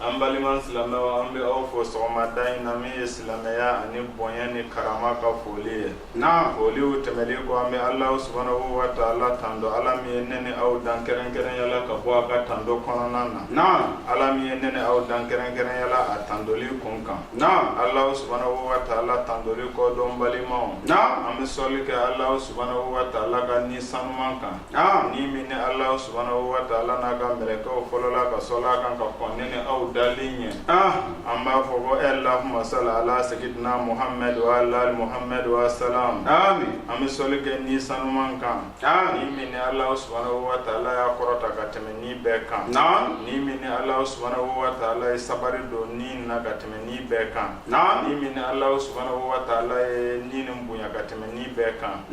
An balima silamɛw an bɛ aw fo sɔgɔmada in na min ye silamɛya ani bonya ni karama ka foli ye, naamu, foliw tɛmɛlen kɔ an bɛ Alahu subahana watala tando Ala min ye ne ni aw dan kɛrɛnkɛrɛnya la ka bɔ a ka tando kɔnɔna na, naamu, Ala min ye ne ni aw dan kɛrɛnkɛrɛnya la a tandoli kun kan, naamu, Alahu subahana watala tandoli kɔ don balimaw, naamu, an bɛ sɔli kɛ Alahu subahana watala ka ni sanuman kan. Aa ni min ni Alahu subahanahu wa taala n'a ka mɛlɛkɛw fɔlɔla ka sɔli a kan ka kɔn ne ni aw dalen ye a an b'a fɔ ko Allahumma salli ala sayyidina Muhammad wa ala ali Muhammad wa salam an bɛ sɔli kɛ ni sanuman kan aa ni min ni Alahu subahanahu wa taala y'a kɔrɔta ka tɛmɛ ni bɛɛ kan naam ni min ni Alahu subahanahu wa taala ye sabari don ni na ka tɛmɛ ni bɛɛ kan ni min ni Alahu subahanahu wa taala ye ni nin bonya ka tɛmɛ ni bɛɛ kan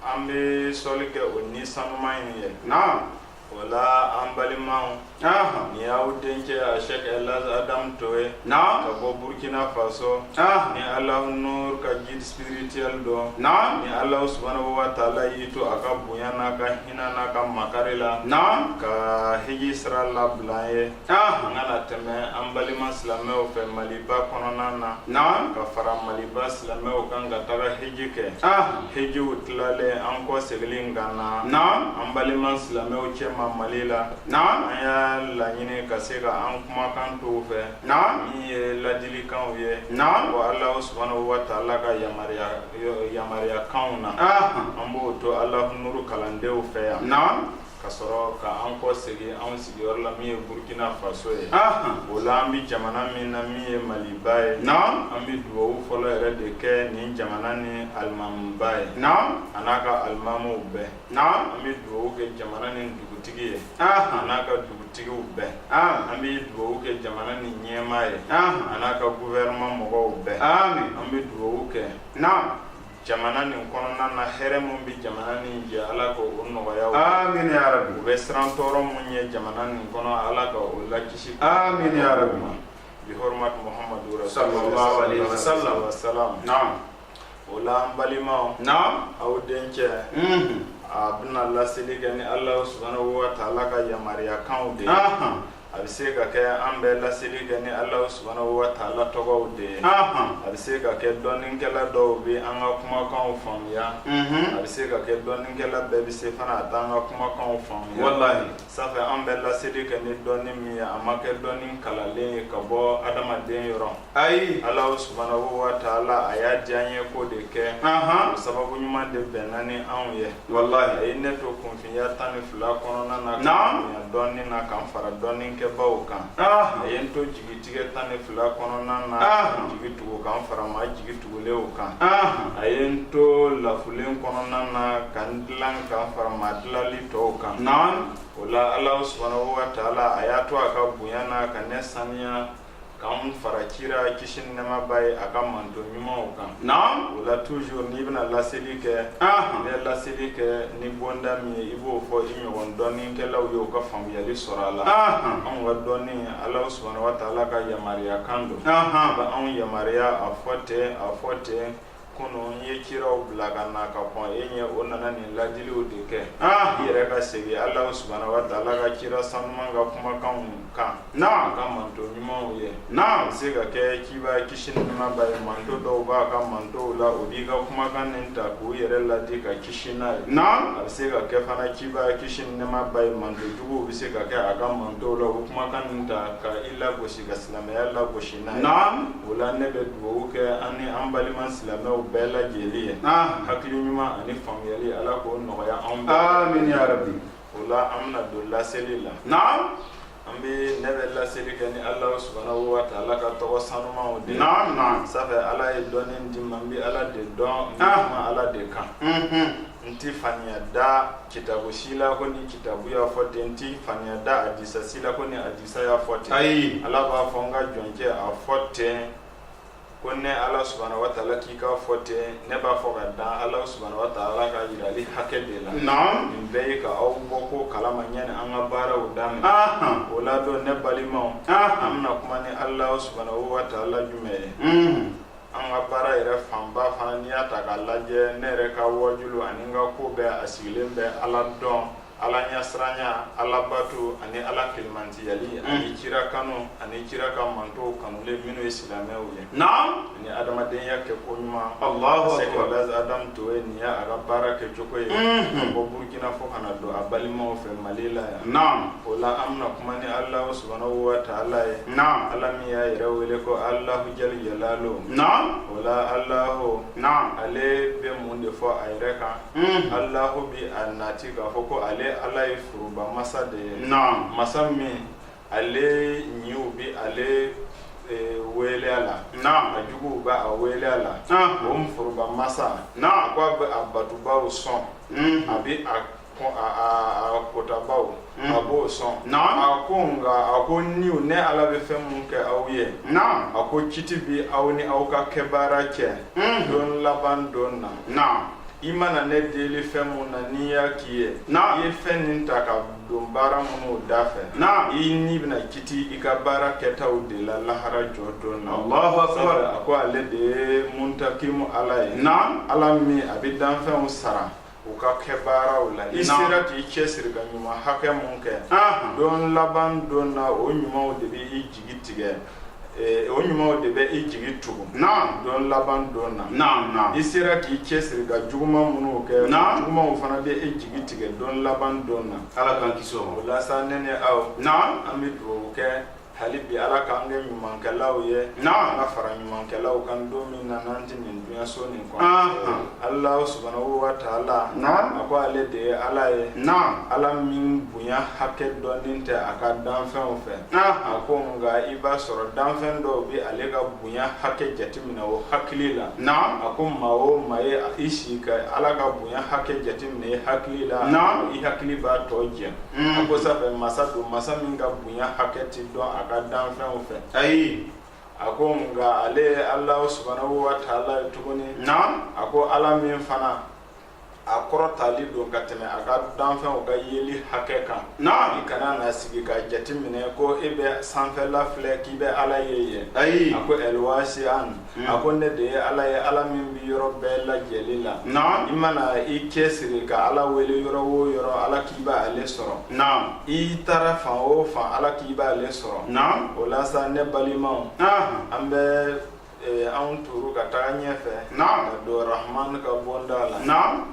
an bɛ sɔli kɛ o ni sanuman in ye naam wala an balimaw ahan ni y'aw dencɛ a Sɛki Ɛlihaji Adamu Toye naam ka bɔ Burukina Faso ahan ni Alahu Nuru ka guide spirituel don naam ni Alahu subahanahu wa taala y'i to a ka bonya n'a ka hinɛ n'a ka makari la naam ka hiji sira labila an ye an ka na tɛmɛ an balima silamɛw fɛ maliba kɔnɔna na naam ka fara maliba silamɛw kan ka taga heji kɛ hejiw tilalen an kɔ seginlen ka na naam an balima silamɛw cɛma mali la naam an y'a laɲini ka se ka an kumakan t'u fɛ naam min ye ladilikanw ye naam wa ala subhanahu wa taala ka yamaruyakanw na an b'o to ala nuru kalandenw fɛ yan naam ka sɔrɔ ka an kɔ segin anw sigiyɔrɔ la min ye Burkina Faso ye o la an bɛ jamana min na min ye Maliba ye an bɛ dugawu fɔlɔ yɛrɛ de kɛ nin jamana ni alimamuba ye a n'a ka alimamuw bɛɛ an bɛ dugawu kɛ jamana ni dugutigi ye a n'a ka dugutigiw bɛɛ an bɛ dugawu kɛ jamana ni ɲɛmaa ye a n'a ka gouvernement mɔgɔw bɛɛ an bɛ dugawu kɛ jamana nin kɔnɔna na hɛrɛ min bɛ jamana nin jɛ ala ka o nɔgɔya amin ya rabi u bɛ siran tɔɔrɔ min ye jamana nin kɔnɔ ala ka o lakisi amin ya rabi bi hɔrɔmat muhammadu sallallahu alaihi wasallam wasallam naam o la an balimaw naam aw dencɛ a bɛna laseli kɛ ni ala subhanahu wa taala ka yamaruya kanw de ye a bɛ se ka kɛ an bɛ laseli kɛ ni Alahu subahana wataala tɔgɔw de ye, anhan, a bɛ se ka kɛ dɔnnikɛla dɔw bɛ an ka kumakanw faamuya, unhun, a bɛ se ka kɛ dɔnnikɛla bɛɛ bɛ se fana a t'an ka kumakanw faamuya, walahi, sanfɛ an bɛ laseli kɛ ni dɔnni min ye a ma kɛ dɔnni kalalen ye ka bɔ adamaden yɔrɔ, ayi, Alahu subahana wataala a y'a diya an ye k'o de kɛ, anhan, o sababu ɲuman de bɛnna ni anw ye, walahi, a ye ne to kun ya tan ni fila kɔnɔna na Naam. bonya dɔnni na ka n fara dɔnnikɛbaw kan Ah. a ye n to jigitigɛ tan ni fila kɔnɔna na Ah. ka n jigi tugu ka n fara maa jigi tugulenw kan Ah. a ye n to lafulen kɔnɔna na ka n dilan ka n fara maa dilali tɔw kan Naam. o la ala subahanahu wa taala a y'a to a ka bonya na ka ne saniya K'an fara kira kisi ni nɛɛma b'a ye a ka manto ɲumanw kan, naamu, o la toujours n'i bɛna laseli kɛ, anhan, i bɛ laseli kɛ ni bonda min ye i b'o fɔ i ɲɔgɔn dɔnnikɛlaw ye u ka faamuyali sɔrɔ a la, anhan, anw ka dɔnni Alahu subahana watala ka yamaruyakan don, anhan, a bɛ anw yamaruya a fɔ ten a fɔ ten Ko n ye kiraw bila ka na ka kɔn e ɲɛ o nana nin ladiliw de kɛ i yɛrɛ ka segin ala subahana wataala ka kira sanuman ka kumakanw kan naam a ka manto ɲumanw ye naam a bɛ se ka kɛ kiba kisi ni nɛɛma b'a ye manto dɔw b'a ka mantow la o b'i ka kumakan nin ta k' u yɛrɛ ladi ka kisi n'a ye naam a bɛ se ka kɛ fana kiba kisi ni nɛɛma b'a ye manto juguw bɛ se ka kɛ a ka mantow la o kumakan nin ta ka i lagosi ka silamɛya lagosi n'a ye o la ne bɛ dugawu kɛ an ni an balima silamɛw bɛɛ lajɛlen ye hakili ɲuman ani faamuyali ala k'o nɔgɔya anw bɛɛ o la an bɛna don laseli la na an bɛ ne bɛ laseli kɛ ni ala subahana wataala ka tɔgɔ sanumanw de na sanfɛ ala ye dɔnni di n ma n bɛ ala de dɔn n bɛ kuma ala de kan n tɛ faniya da kitabu si la ko ni kitabu y'a fɔ ten n tɛ faniya da hadisa si la ko ni hadi Isa y'a fɔ ten ayi ala b'a fɔ n ka jɔncɛ a fɔ ten ko ne ala subahana wataala k'i k'a fɔ ten ne b'a fɔ ka dan ala subahana wataala ka jirali hakɛ de la nin bɛɛ ye ka aw bɔ ko kalama ɲani an ka baaraw daminɛ o la don ne balimaw an bɛna kuma ni ala subahana wataala jumɛn ye an ka baara yɛrɛ fanba fana n'i y'a ta k'a lajɛ ne yɛrɛ ka wajulu ani n ka ko bɛɛ a sigilen bɛ ala dɔn ala ɲasiranya ala bato ani ala kelimantiyali mm. ani kira kanu ani kira ka mantow kanulen minnu ye silamɛw ye naam ani adamadenya kɛko ɲuman allahu akbar baz adam toye nin ye a ka baara kɛcogo ye mm-hmm. ka bɔ burkina fo ka na don a balimaw fɛ mali la yan naam o la an bɛna kuma ni alahu subhanahu wa taala ye naam ala min y'a yɛrɛ wele ko alahu jali jalalo naam o la alahu naam ale bɛ mun de fɔ a yɛrɛ kan alahu bi a nati k'a fɔ ko ale ala ye foroba masa de ye masa min ale ɲinw bɛ ale e, wele ala a juguw bɛ a wele ala o foroba masa ko a bɛ a batubaw sɔn a bɛ a kutabaw Mm. a b'o sɔn a ko nka a ko ni ne ala bɛ fɛn mun kɛ aw ye a ko kiti bi aw ni aw ka kɛ baara cɛ mm. don laban don na i mana ne deli fɛn mun na n'i y'a k'i ye i ye fɛn nin ta ka don baara minnu da fɛ i ni bɛna kiti i ka baara kɛtaw de la lahara jɔ don na a ko ale de ye muntakimu ala ye ala min a bɛ danfɛnw sara U ka kɛ baaraw la i sera k'i cɛ siri ka ɲuman hakɛ mun kɛ don laban don na o ɲumanw de bɛ i jigi tigɛ o ɲumanw de bɛ i jigi tugun don laban don na i sera k'i cɛ siri ka juguma minnu kɛ jugumaw fana bɛ i jigi tigɛ don laban don na ala ka o la sa ne ni aw an bɛ dugawu kɛ hali bi ala k'an kɛ ɲumankɛlaw ye naamu an ka fara ɲumankɛlaw kan don min na n'an tɛ nin duɲaso nin kɔnɔ Anhan. ala subhanahu wa taala Naam. a ko ale de ye ala ye naamu ala min bonya hakɛ dɔnnen tɛ a ka danfɛnw fɛ Anhan. a ko nka i b'a sɔrɔ danfɛn dɔw bɛ ale ka bonya hakɛ jateminɛ o hakili la naamu a ko maa o maa ye i sigi ka ala ka bonya hakɛ jateminɛ i hakili la Naam. i hakili b'a tɔ jɛ Mm. a ko sanfɛ masa don masa min ka bonya hakɛ tɛ dɔn a ka danfɛnw fɛ ayi a ko nka ale ye ala subhanahu wa taala ye tuguni na a ko ala min fana a kɔrɔtali don ka tɛmɛ a ka danfɛnw ka yeli hakɛ kan na i kana na sigi ka jateminɛ ko e bɛ sanfɛla filɛ k'i bɛ ala ye yen ayi a ko elwasian a ko ne de ye ala ye ala min bɛ yɔrɔ bɛɛ lajɛlen la i mana i cɛ siri ka ala wele yɔrɔ o yɔrɔ ala k'i bɛ ale sɔrɔ i taara fan o fan ala k'i bɛ ale sɔrɔ o la sa ne balimaw an bɛ anw turu ka taga ɲɛfɛ ka don rahman ka bonda la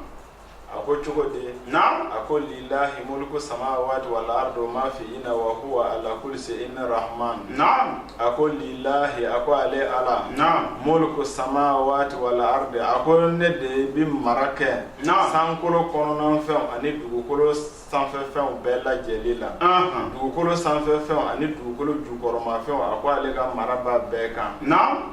a ko cogo di na a ko lilahi mulku samawati wal ardi ma fi ina wa huwa ala kulli shay'in rahman na a ko lilahi a ko ale ala na mulku samawati wal ardi a ko ne de bi mara kɛ na sankolo kɔnɔna fɛnw ani dugukolo sanfɛ fɛnw bɛɛ lajɛlen la dugukolo sanfɛ fɛnw ani dugukolo jukɔrɔma fɛnw a ko ale ka mara b'a bɛɛ kan na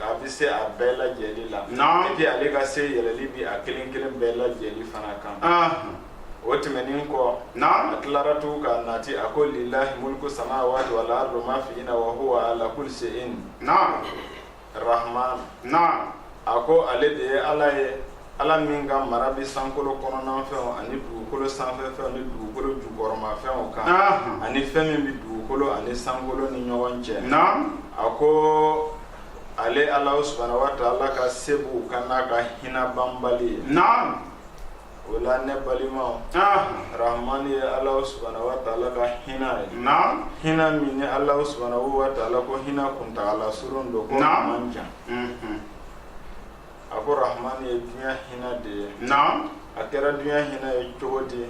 A bɛ se a bɛɛ lajɛlen la et puis ale ka se yɛlɛlen bi a kelen kelen bɛɛ lajɛlen fana kan o tɛmɛnen kɔ n' a tilara tugu ka nati a ko lilahi mulku samawati wal ardi ma fi ina wa huwa ala kulli shay'in na rahman na a ko ale de ye ala ye Ala min ka mara bɛ sankolo kɔnɔnanfɛnw ani dugukolo sanfɛfɛnw ni dugukolo jukɔrɔmafɛnw kan ani fɛn min bɛ dugukolo ani sankolo ni ɲɔgɔn cɛ a ko ale ala subahana wataala ka se b'u kan n'a ka hinɛ banbali ye o la ne balimaw rahman ye ala subahana wataala ka hinɛ ye hinɛ min ni ala subahana wataala ko hinɛ kuntagala surun don ko a man jan a ko rahman ye duɲa hinɛ de ye naam a kɛra duɲa hinɛ ye cogo di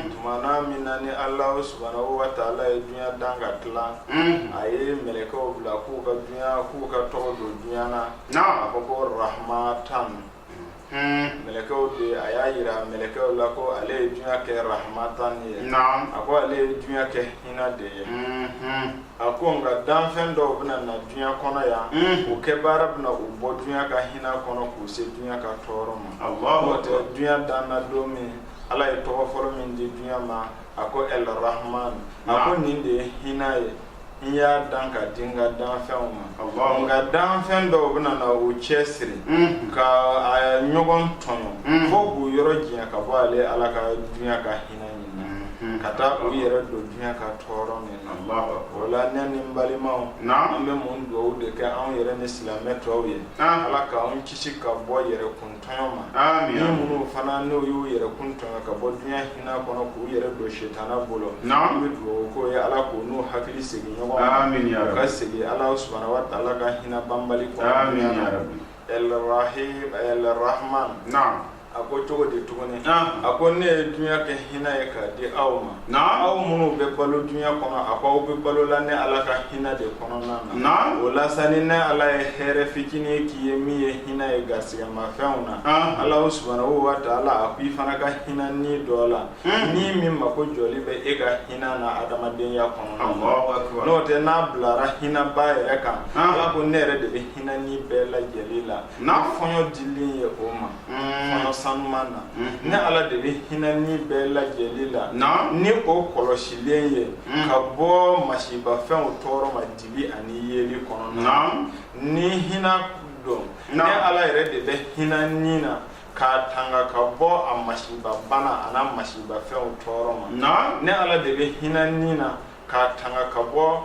tumana min na ni ala subahana wataala ye duɲa dan ka tila a ye mɛlɛkɛw bila k'u ka duɲa k'u ka tɔgɔ don duɲa na a ko ko rahmatan mɛlɛkɛw de a y'a yira mɛlɛkɛw la ko ale ye duɲa kɛ rahmatan ye a ko ale ye duɲa kɛ hinɛ de ye a ko nka danfɛn dɔw bɛna na duɲa kɔnɔ yan o kɛ baara bɛna u bɔ duɲa ka hinɛ kɔnɔ k'u se duɲa ka tɔɔrɔ ma n'o tɛ duɲa danna don min ala ye tɔgɔ fɔlɔ min di duɲa ma a ko el rahman a ko nin de ye hinɛ ye n y'a dan ka di n ka danfɛnw ma nka danfɛn dɔw bɛna na u cɛ siri ka a ɲɔgɔn tɔɲɔ fo k'u yɔrɔ janya ka bɔ ale ala ka duɲa ka hinɛ nin na ka taa u yɛrɛ don duɲa ka tɔɔrɔ min o la ne ni n balimaw an bɛ mun dugawu de kɛ anw yɛrɛ ni silamɛ tɔw ye ala k'an kisi ka bɔ yɛrɛkun tɔɲɔ ma ni minnu fana n'u y'u yɛrɛkun tɔɲɔ ka bɔ duɲa hinɛ kɔnɔ k'u yɛrɛ don setana bolo an bɛ dugawu k'o ye ala k'u n'u hakili segin ɲɔgɔn ma u ka segin ala subahana wataala ka hinɛ banbali kɔnɔ Elrahim Elrahman naam a ko cogo di tuguni naam a ko ne ye dunya kɛ hinɛ ye k'a di aw ma naam aw minnu bɛ balo dunya kɔnɔ a ko aw bɛ balo la ne Ala ka hinɛ de kɔnɔna na naam o la sa ni ne Ala ye hɛrɛ fitinin k'i ye min ye hinɛ ye garisigɛmafɛnw na naam Ala subahanahu wa taala a ko i fana ka hinɛ ni dɔ la hmm. ni min mako jɔli bɛ e ka hinɛ na adamadenya kɔnɔna na n'o tɛ n'a bilara hinɛba yɛrɛ kan Ala ko ne yɛrɛ de bɛ hinɛ ni bɛɛ lajɛlen la ni fɔɲɔ dilen ye o ma mm. fɔɲɔ sanuman na mm-hmm. ne ala de bɛ hinɛ ni bɛɛ lajɛlen la ni o kɔlɔsilen ye mm. ka bɔ masibafɛnw tɔɔrɔ ma dibi ani yeli kɔnɔna na ni hinɛ don ne ala yɛrɛ de bɛ hinɛ ni na k'a tanga ka bɔ a masiba bana an'a masibafɛnw tɔɔrɔ ma ne ala de bɛ hinɛ ni na k'a tanga ka bɔ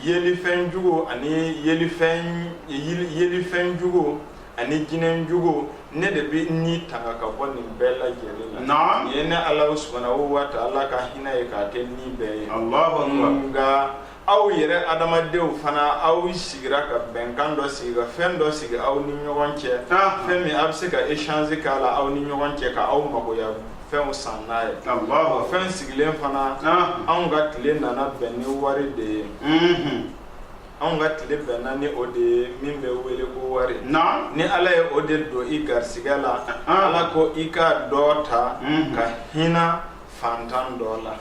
yelifɛn juguw ani yelifɛn yelifɛn juguw ani jinɛ juguw ne de bɛ ni tanga ka bɔ nin bɛɛ lajɛlen na naam ye ne ala subhanahu wa ta'ala ka hinɛ ye k'a kɛ ni bɛɛ ye allahu akbar nka aw yɛrɛ adamadenw fana aw sigira ka bɛnkan dɔ sigi ka fɛn dɔ sigi aw ni ɲɔgɔn cɛ ah. fɛn min a bɛ se ka échanger k'a la aw ni ɲɔgɔn cɛ ka aw magoya fɛnw san n'a ye o fɛn sigilen fana anw ka tile nana bɛn ni wari de ye anw ka tile bɛnna ni o de ye min bɛ wele ko wari ni ala ye o de don i garisigɛ la ala ko i ka dɔ ta ka hinɛ fantan dɔ la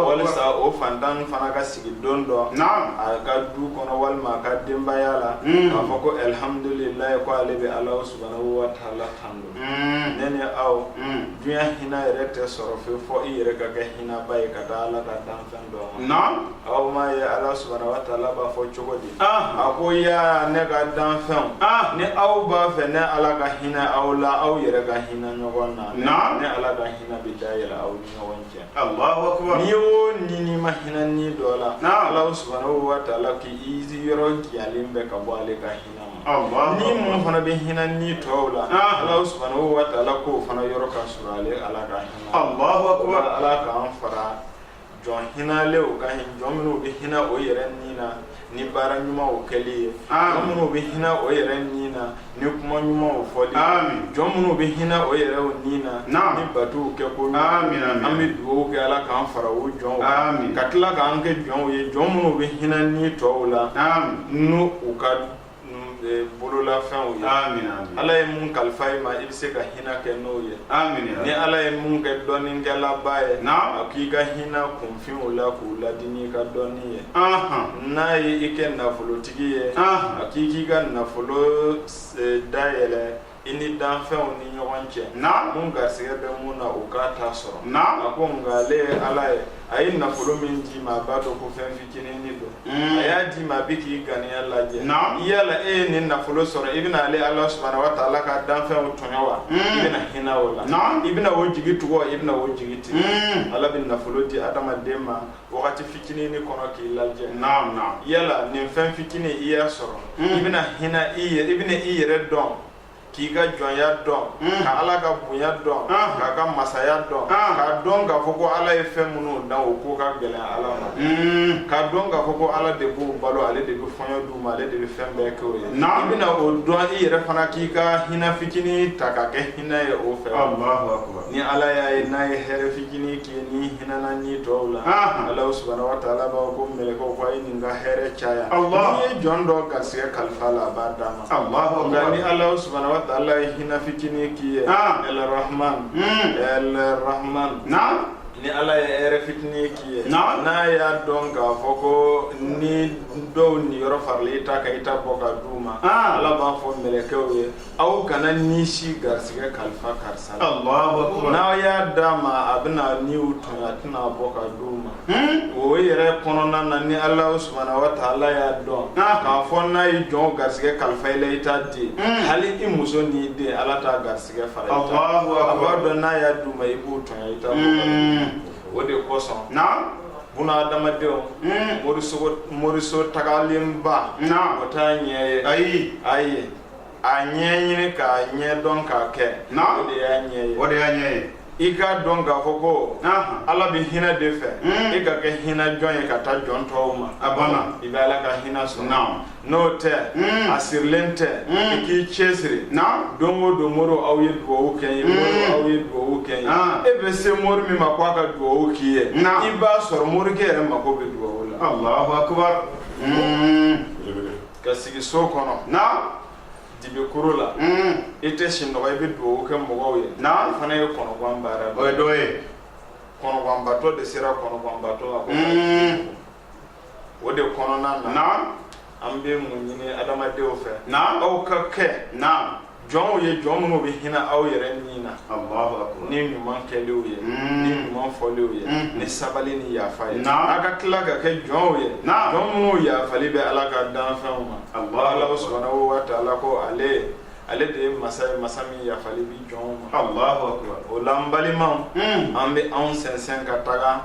walisa o fantan fana ka sigi don dɔ a ka du kɔnɔ walima a ka denbaya la k'a fɔ ko alihamdulilayi ko ale bɛ ala subahana wa taala tando ne ni aw dunya hinɛ yɛrɛ tɛ sɔrɔ fewu fo i yɛrɛ ka kɛ hinɛba ye ka taa ala ka danfɛn dɔ ma aw m'a ye ala subahana wa taala b'a fɔ cogo di a ko ya ne ka danfɛnw ni aw b'a fɛ ne ala ka hinɛ aw la aw yɛrɛ ka hinɛ ɲɔgɔn na ne ala ka hinɛ bɛ dayɛlɛ aw ni ɲɔgɔn cɛ n'i y'o ɲini ma hinɛ ni dɔ la ala subahana wa taala k'i yɔrɔ janyalen bɛ ka bɔ ale ka hinɛ ni min fana bɛ hinɛ ni tɔw la ala subahana wa taala k'o fana yɔrɔ ka surun ale ala ka hinɛ ala k'an fara jɔn hinɛlenw kan jɔn minnu bɛ hinɛ o yɛrɛ ni na ni baara ɲumanw kɛli ye jɔn minnu bɛ hinɛ o yɛrɛ ni na ni kuma ɲumanw fɔli jɔn minnu bɛ hinɛ o yɛrɛ ni na ni batuw kɛ ko an bɛ dugawu kɛ ala k'an fara o jɔnw ka tila k'an kɛ jɔnw ye jɔn minnu bɛ hinɛ ni tɔw la n'u ka bololafɛnw ye, Amina yarabi, Ala ye mun kalifa i ma i bɛ se ka hinɛ kɛ n'o ye, Amina yarabi, ni Ala ye mun kɛ dɔnnikɛlaba ye, naamu, a k'i ka hinɛ kunfinw la k'u ladi n'i ka dɔnni ye, anhan, n'a ye i kɛ nafolotigi ye, anhan, a k'i k'i ka nafolo dayɛlɛ i ni danfɛnw ni ɲɔgɔn cɛ naam mun garisɛgɛ bɛ mun na o k'a ta sɔrɔ naam a ko nka ale ye ala ye a ye nafolo min d'i ma a b'a dɔn ko fɛn fitinini don hmm. a y'a d'i ma a bɛ k'i ganiya lajɛ naam yala e ye nin nafolo sɔrɔ i bɛna ale ala subahana wa taala ka danfɛnw tɔɲɔ wa hmm. i bɛna hinɛ o la naam i bɛna o jigi tugu wa i bɛna o jigi tigɛ hmm. ala bɛ nafolo di adamaden ma wagati fitinin kɔnɔ k'i lajɛ naam naam yala nin fɛn fitinin i y'a sɔrɔ hmm. i bɛna hinɛ i bɛna i yɛrɛ dɔn k'i ka jɔnya dɔn hmm. ka ala ka bonya dɔn ah. k'a ka masaya dɔn ah. k'a dɔn k'a fɔ ko ala ye fɛn minnu dan o ko ka gɛlɛn ala ma hmm. k'a dɔn k'a fɔ ko ala de b'u balo ale de bɛ fɔɲɔ d'u ma ale de bɛ fɛn bɛɛ kɛ o ye i bɛna o dɔn i yɛrɛ fana k'i ka hinɛ fitinin ta ka kɛ hinɛ ye o fɛ ni ala y'a ye n'a ye hɛrɛ fitinin k'i ye ni hinɛna ni tɔw la ala subahana wa taala b'a fɔ mɛlɛkɛw ko a ye nin ka hɛrɛ caya n'i ye jɔn dɔ garisigɛ kalif'a la a b'a d'a ma nka ni ala subahana wa taala ye hinɛ fitinin k'i ye el rahman el rahman ni ala ye hɛrɛ fitinin k'i ye n'a y'a dɔn k'a fɔ ko ni dɔw niyɔrɔ faralen i ta kan i t'a bɔ ka d'u ma ala b'a fɔ mɛlɛkɛw ye aw kana ni si garisɛgɛ kalifa karisa la n'aw y'a d'a ma a bɛna niw tɔɲa a tɛna bɔ ka d'u ma hmm? o yɛrɛ kɔnɔna na ni ala subahana wa taala y'a dɔn ah. k'a fɔ n'a ye jɔn garisɛgɛ kalifa i la i t'a di hmm. hali i muso n'i den ala t'a garisɛgɛ fara i ta a b'a dɔn n'a y'a d'u ma i b'u tɔɲa i t'a bɔ hmm. o de kosɔn buna adamadenw moriso tagalenba o t'a ɲɛ ye ayi ayi a ɲɛ ɲini k'a ɲɛ dɔn k'a kɛ o de y'a ɲɛ ye o de y'a ɲɛ ye i k'a dɔn k'a fɔ ko ala bɛ hinɛ de fɛ hmm. i ka kɛ hinɛ jɔn ye ka taa jɔn tɔw ma a banna i bɛ ala ka hinɛ sɔrɔ n'o tɛ hmm. a sirilen tɛ hmm. i k'i cɛ siri don o don mori aw ye dugawu kɛ n ye mori aw ye dugawu kɛ n ye ah. e bɛ se mori min ma ko a ka dugawu k'i ye i b'a sɔrɔ morikɛ yɛrɛ mako bɛ dugawu la ka sigi so kɔnɔ na dibi kuru la i tɛ sinɔgɔ i bɛ dugawu kɛ mɔgɔw ye na fana ye kɔnɔgwan baara o ye dɔ ye kɔnɔgwanbatɔ de sera kɔnɔgwanbatɔ la o de kɔnɔna na na an bɛ mun ɲini adamadenw fɛ na aw ka kɛ na jɔnw ye jɔn minnu bɛ hinɛ aw yɛrɛ ni na ni ɲuman kɛliw ye hmm. ni ɲuman fɔliw ye hmm. ni sabali ni yafa ye aw ka tila ka kɛ jɔnw ye jɔn minnu yafali bɛ ala ka danfɛnw ma ala subahana wa taala ko ale ale de ye masa ye masa min yafali b'i jɔnw ma o la n balimaw hmm. an bɛ anw sɛnsɛn ka taga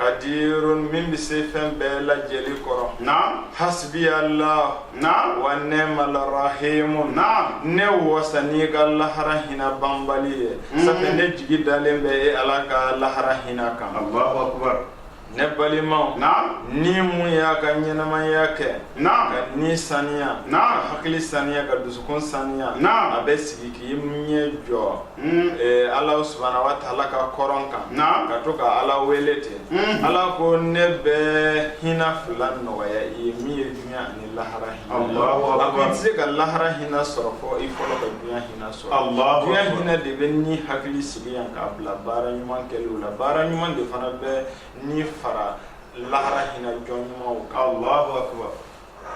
kadirun min bɛ se fɛn bɛɛ lajɛlen kɔrɔ na hasibiyala na wa nimala rahimu na ne wasa n'i ka lahara hinɛ banbali ye mm. sabu ne jigi dalen bɛ e ala ka lahara hinɛ kan ne balimaw na ni min y'a ka ɲɛnamaya kɛ na ka ni saniya ka hakili saniya ka dusukun saniya na a bɛ sigi k'i ɲɛ jɔ ala subahana wa taala ka kɔrɔn kan ka to ka ala wele ten ala ko ne bɛ hinɛ fila nɔgɔya i ye min ye dunya ani lahara hinɛ a ko i tɛ se ka lahara hinɛ sɔrɔ fo i fɔlɔ ka dunya hinɛ sɔrɔ dunya hinɛ de bɛ ni hakili sigi yan k'a bila baara ɲuman kɛliw la baara ɲuman de fana bɛ ni fara lahara hinɛ jɔn ɲumanw kan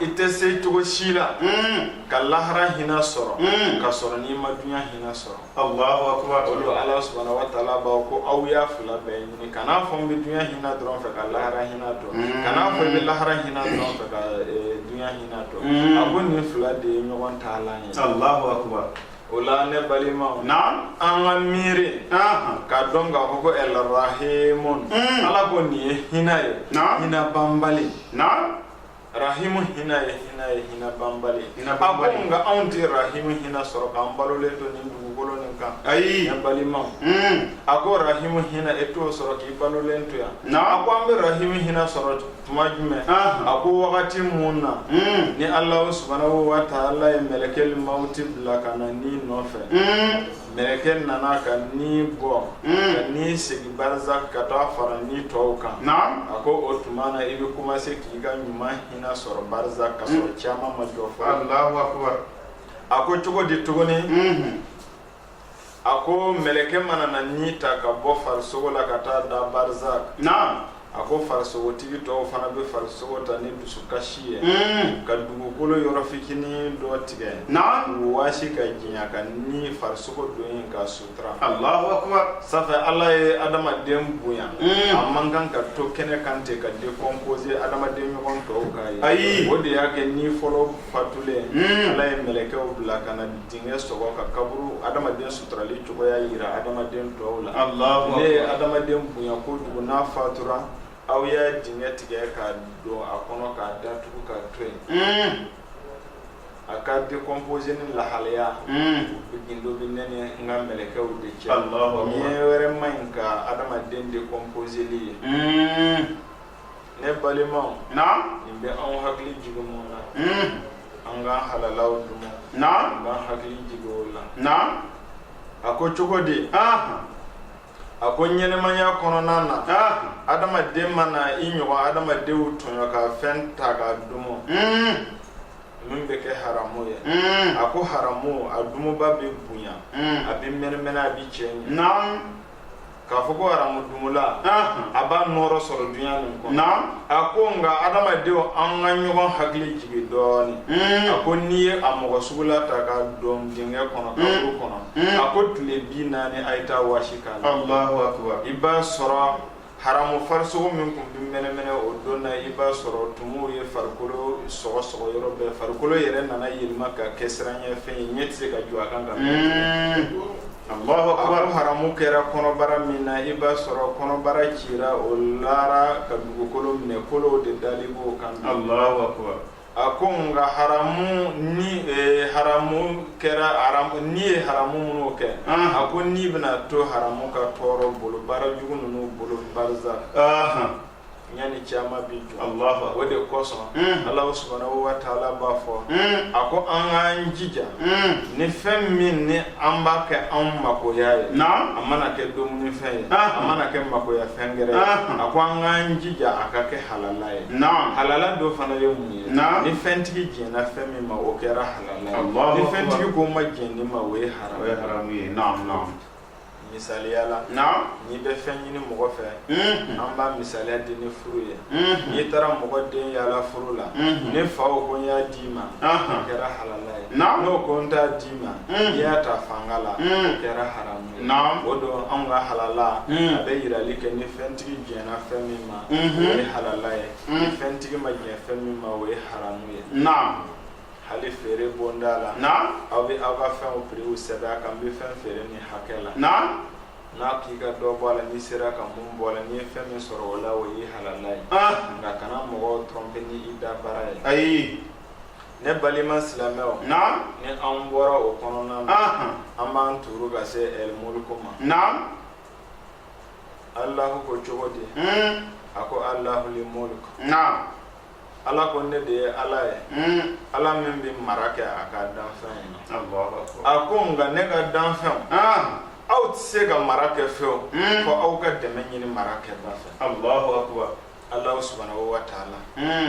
i tɛ se cogo si la hmm. ka lahara hinɛ sɔrɔ hmm. ka sɔrɔ n'i ma dunya hinɛ sɔrɔ Allahu akbar o la Ala subahana wa taala b'a ko aw y'a fila bɛɛ ɲini kan'a fɔ n bɛ dunya hinɛ dɔrɔn fɛ ka lahara hinɛ dɔn hmm. kan'a fɔ i bɛ lahara hinɛ dɔrɔn fɛ ka e, dunya hinɛ dɔn a ko nin fila de ye ɲɔgɔn taalan ye Allahu akbar o la ne balimaw na an ka miiri k'a dɔn k'a fɔ ko ɛlrahimun ala ko nin ye hinɛ ye hinɛ banbali na rahimu hinɛ ye hinɛ ye hinɛ banbali a ko nka anw tɛ rahimu hinɛ sɔrɔ k'an balolen to nin dugukolo nin kan ayi ne balimaw hmm. a ko rahimu hinɛ e t'o sɔrɔ k'i balolen to yan na a ko an bɛ rahimu hinɛ sɔrɔ tuma jumɛn a ko wagati mun na hmm. ni Alahu subahanahu wataala ye mɛlɛkɛlu mawuti bila ka na ni nɔfɛ hmm. mɛlɛkɛ nana ka ni bɔ ka ni segin barzak ka taa fara ni tɔw kan a ko o tuma na i bɛ commencer k'i ka ɲuman hinɛ sɔrɔ barzak ka sɔrɔ kiyama ma jɔ fɔlɔ Allahu akbar a ko cogo di tuguni a ko mɛlɛkɛ mana na ni ta ka bɔ farisogo la ka taa da barzak A ko farisogotigi tɔw fana bɛ farisogo ta ni dusukasi ye ka dugukolo yɔrɔ fitinin dɔ tigɛ k'o waasi k'a dunya ka nin farisogo don yen k'a sutura Allahu akbar ça fait ala ye adamaden bonya a man kan ka to kɛnɛ kan ten ka décomposer adamaden ɲɔgɔn tɔw k'a ye ayi o de y'a kɛ ni fɔlɔ fatulen ala ye mɛlɛkɛw bila ka na Dingɛ sɔgɔ ka kaburu adamaden suturali cogoya jira adamaden tɔw la ne ye adamaden bonya kojugu n'a fatura aw ye dingɛ tigɛ k'a don a kɔnɔ k'a datugu k'a to yen a ka décomposer nin lahalaya gundo bɛ ne ni n ka mɛlɛkɛw de cɛ ɲɛ wɛrɛ man ɲi ka adamaden décomposerli ye ne balimaw naam nin bɛ anw hakili jigin mun na hmm. an k'an halalaw dumu naam an k'an hakili jigin o la naam a ko cogo di a ko ɲɛnamaya kɔnɔna na adamaden mana i ɲɔgɔn adamadenw tɔɲɔ ka fɛn ta k'a dumu hmm. min bɛ kɛ haramu ye hmm. a ko haramu a dumubaa bɛ bonya a bɛ mɛnɛmɛnɛ a bɛ cɛɲɛ k'a fɔ ko haramudumula a b'a nɔɔrɔ sɔrɔ dunya nin kɔnɔ a ko nka adamadenw an ka ɲɔgɔn hakili jigin dɔɔni a ko n'i ye a mɔgɔ sugula ta k'a don dingɛ kɔnɔ kaburu kɔnɔ a ko tile bi naani a ye taa waasi k'a la i b'a sɔrɔ haramu farisogo min tun bɛ mɛnɛmɛnɛ o don na i b'a sɔrɔ tumuw ye farikolo sɔgɔsɔgɔ yɔrɔ bɛɛ farikolo yɛrɛ nana yɛlɛma ka kɛ siranɲɛfɛn ye ɲɛ tɛ se ka jɔ a kan ka haramu kɛra kɔnɔbara min na i b'a sɔrɔ kɔnɔbara cira o lara ka dugukolo minɛ kolow de dali b'o kan a ko nka haramu ni e, haramu kɛra haramu ni ye haramu minnu kɛ a ko ni bɛna to haramu ka tɔɔrɔ bolo baara jugu ninnu bolo barza ɲani caman bi jɔ Alahu o de kosɔn mm. Alahu subahanahu wa taala b'a fɔ mm. a ko an k'an jija mm. ni fɛn min ni an b'a kɛ an makoya ye a mana kɛ dumuni fɛn ye ah. a mana kɛ makoya fɛn gɛrɛ ye ah. a ko an k'an jija a ka kɛ halala ye halala dɔ fana ye mun ye ni fɛntigi jɛnna fɛn min ma o kɛra halala ye ni fɛntigi ko ma jɛn ni ma o ye haramu ye misaliya la n'i bɛ fɛn ɲini mɔgɔ fɛ an b'a misaliya di ni furu ye n'i taara mɔgɔ den yala furu la ni fa o ko n y'a d'i ma o kɛra halala ye n'o ko n t'a d'i ma i y'a ta fanga la o kɛra haramu ye o don anw ka halala a bɛ yirali kɛ ni fɛntigi jɛnna fɛn min ma o ye halala ye ni fɛntigi ma jɛn fɛn min ma o ye haramu ye hali feere bonda la na aw bɛ aw ka fɛnw piriw sɛbɛn a kan n bɛ fɛn feere nin hakɛ la na n'a k'i ka dɔ bɔ a la n'i sera ka mun bɔ a la n'i ye fɛn min sɔrɔ o la o ye halala ye nka kana mɔgɔw tromper ni i da baara ye ayi ne balima silamɛw na ni an bɔra o kɔnɔna na an b'an tuuru ka se ɛl mulk ma na alahu ko cogo di a ko alahu li mulk na ala ko ne de ye ala ye ala min bɛ mara kɛ a ka danfɛn ye a ko nka ne ka danfɛnw aw tɛ se ka mara kɛ fewu fɔ aw ka dɛmɛ ɲini mara kɛba fɛ ala subahanahu wa taala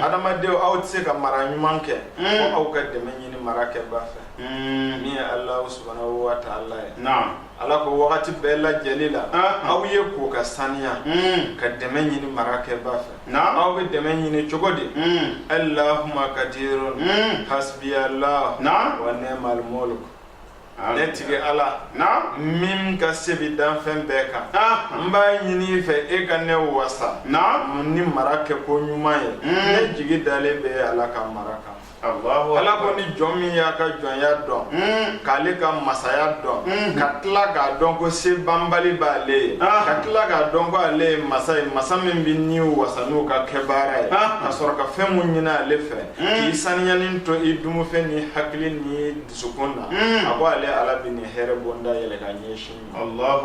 adamadenw aw tɛ se ka mara ɲuman kɛ fɔ aw ka dɛmɛ ɲini mara kɛba fɛ min ye ala subahanahu wa taala ye ala ko wagati bɛɛ lajɛli la aw ye ko ka saniya hmm. ka dɛmɛ ɲini mara kɛba fɛ aw bɛ dɛmɛ ɲini cogo di hmm. allahuma kadirun hmm. hasbiyallah wa ni'mal mulk ne tigi ala min ka se bi danfɛn bɛɛ kan n b'a ɲini i fɛ e ka ne wasa ni mara kɛ ko ɲuman ye ne jigi dalen bɛ ala ka mara kan ala ko ni jɔn min y'a ka jɔnya dɔn hmm. k'ale ka masaya dɔn hmm. ka tila k'a dɔn ko se banbali b'ale ye ah. ka tila k'a dɔn ko ale ye masa ye masa min bɛ niw wasa n'u ka kɛ baara ye ah. ka sɔrɔ ka fɛn mun ɲini ale fɛ hmm. k'i saniyalen to i dumufɛn ni hakili ni dusukun na a ko ale ala bɛ nin hɛrɛ bonda yɛlɛ ka ɲɛsin i ma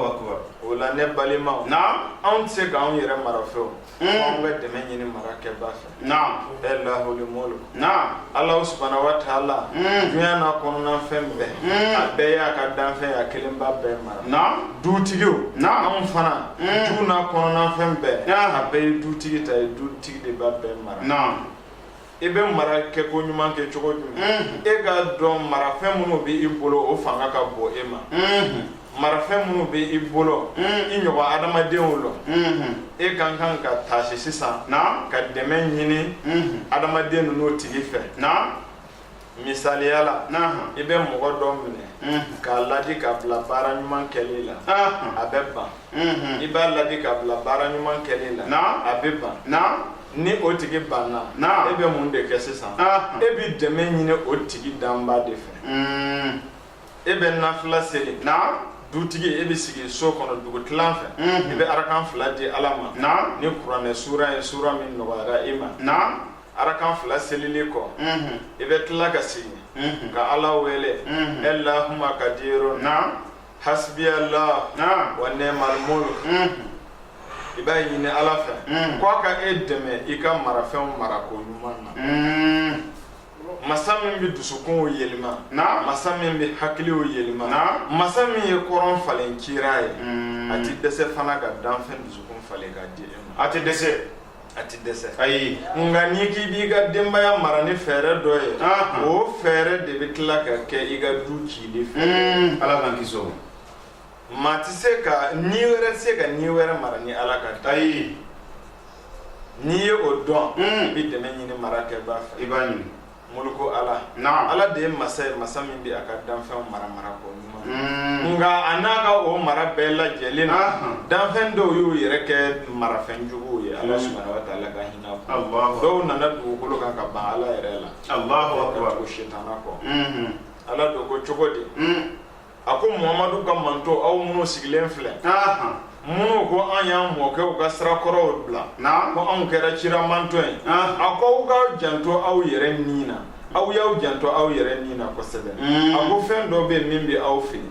o la ne balimaw anw tɛ se k'anw yɛrɛ mara fewu Anw bɛ dɛmɛ ɲini marakɛba fɛ e lahul mulk ala subhanahu wa ta'ala dunya na kɔnɔna fɛn bɛɛ a bɛɛ y'a ka danfɛn ye a kelen b'a bɛɛ mara dutigiw anw fana du na kɔnɔnafɛn bɛɛ a bɛɛ ye dutigi ta ye dutigi de b'a bɛɛ mara i bɛ mara kɛ ko ɲuman kɛ cogo jumɛn mm-hmm. e k'a dɔn marafɛn minnu bɛ i bolo o fanga ka bon e ma mm-hmm. marafɛn minnu bɛ i bolo mm-hmm. i ɲɔgɔn adamadenw lɔ e ka kan ka taasi sisan ka dɛmɛ ɲini adamaden ninnu tigi fɛ misaliya la i bɛ mɔgɔ dɔ minɛ k'a ladi ka bila baara ɲuman kɛli la a bɛ ban i b'a ladi ka bila baara ɲuman kɛli la a bɛ ban ni o tigi banna e bɛ mun de kɛ sisan e bɛ dɛmɛ ɲini o tigi danba de fɛ e bɛ nafila seli dutigi e bɛ sigi so kɔnɔ dugu tilan fɛ i bɛ arakan fila di ala ma ni kuranɛ sura ye sura min nɔgɔyara e ma arakan fila selili kɔ i bɛ tila ka sigi ka ala wele allahumma kadiru hasbiyallah wa ni'mal mulk i b'a ɲini ala fɛ ko a ka e dɛmɛ i ka marafɛnw marako ɲuman na masa min bɛ dusukunw yɛlɛma masa min bɛ hakiliw yɛlɛma masa min ye kɔrɔn falen kira ye a tɛ dɛsɛ fana ka danfɛn dusukun falen ka di e ma a tɛ dɛsɛ a tɛ dɛsɛ ayi nka n'i k'i b'i ka denbaya mara ni fɛɛrɛ dɔ ye o fɛɛrɛ de bɛ tila ka kɛ i ka du cili fɛ hmm, ala k'an kisi o maa tɛ se ka ni wɛrɛ tɛ se ka ni wɛrɛ mara ni ala ka da ayi n'i ye o dɔn hmm. i bɛ dɛmɛ ɲini marakɛbaa fɛ i b'a ɲini Mulku ala ala de ye masa ye masa min bɛ a ka danfɛnw mara mara ko ɲuman nka a n'a ka o mara bɛɛ lajɛlen na danfɛn dɔw y'u yɛrɛ kɛ marafɛn juguw ye ala subhanahu wa ta'ala ka hinɛ dɔw nana dugukolo kan ka ban ala yɛrɛ la ko sitana kɔ ala don ko cogo di a ko mamadu ka manto aw minnu sigilen filɛ minnu ko an y'an mɔkɛw ka sira kɔrɔw bila ko anw kɛra cira manto ye a ko aw ka janto aw yɛrɛ ni na aw y'aw janto aw yɛrɛ ni na kosɛbɛ a ko fɛn dɔ bɛ min bɛ aw fili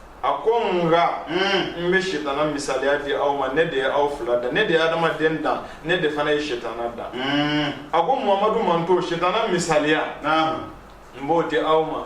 a ko nka n bɛ sitana misaliya di aw ma ne de ye aw fila dan ne de ye adamaden dan ne de fana ye sitana dan a ko mamadu manto sitana misaliya n b'o di aw ma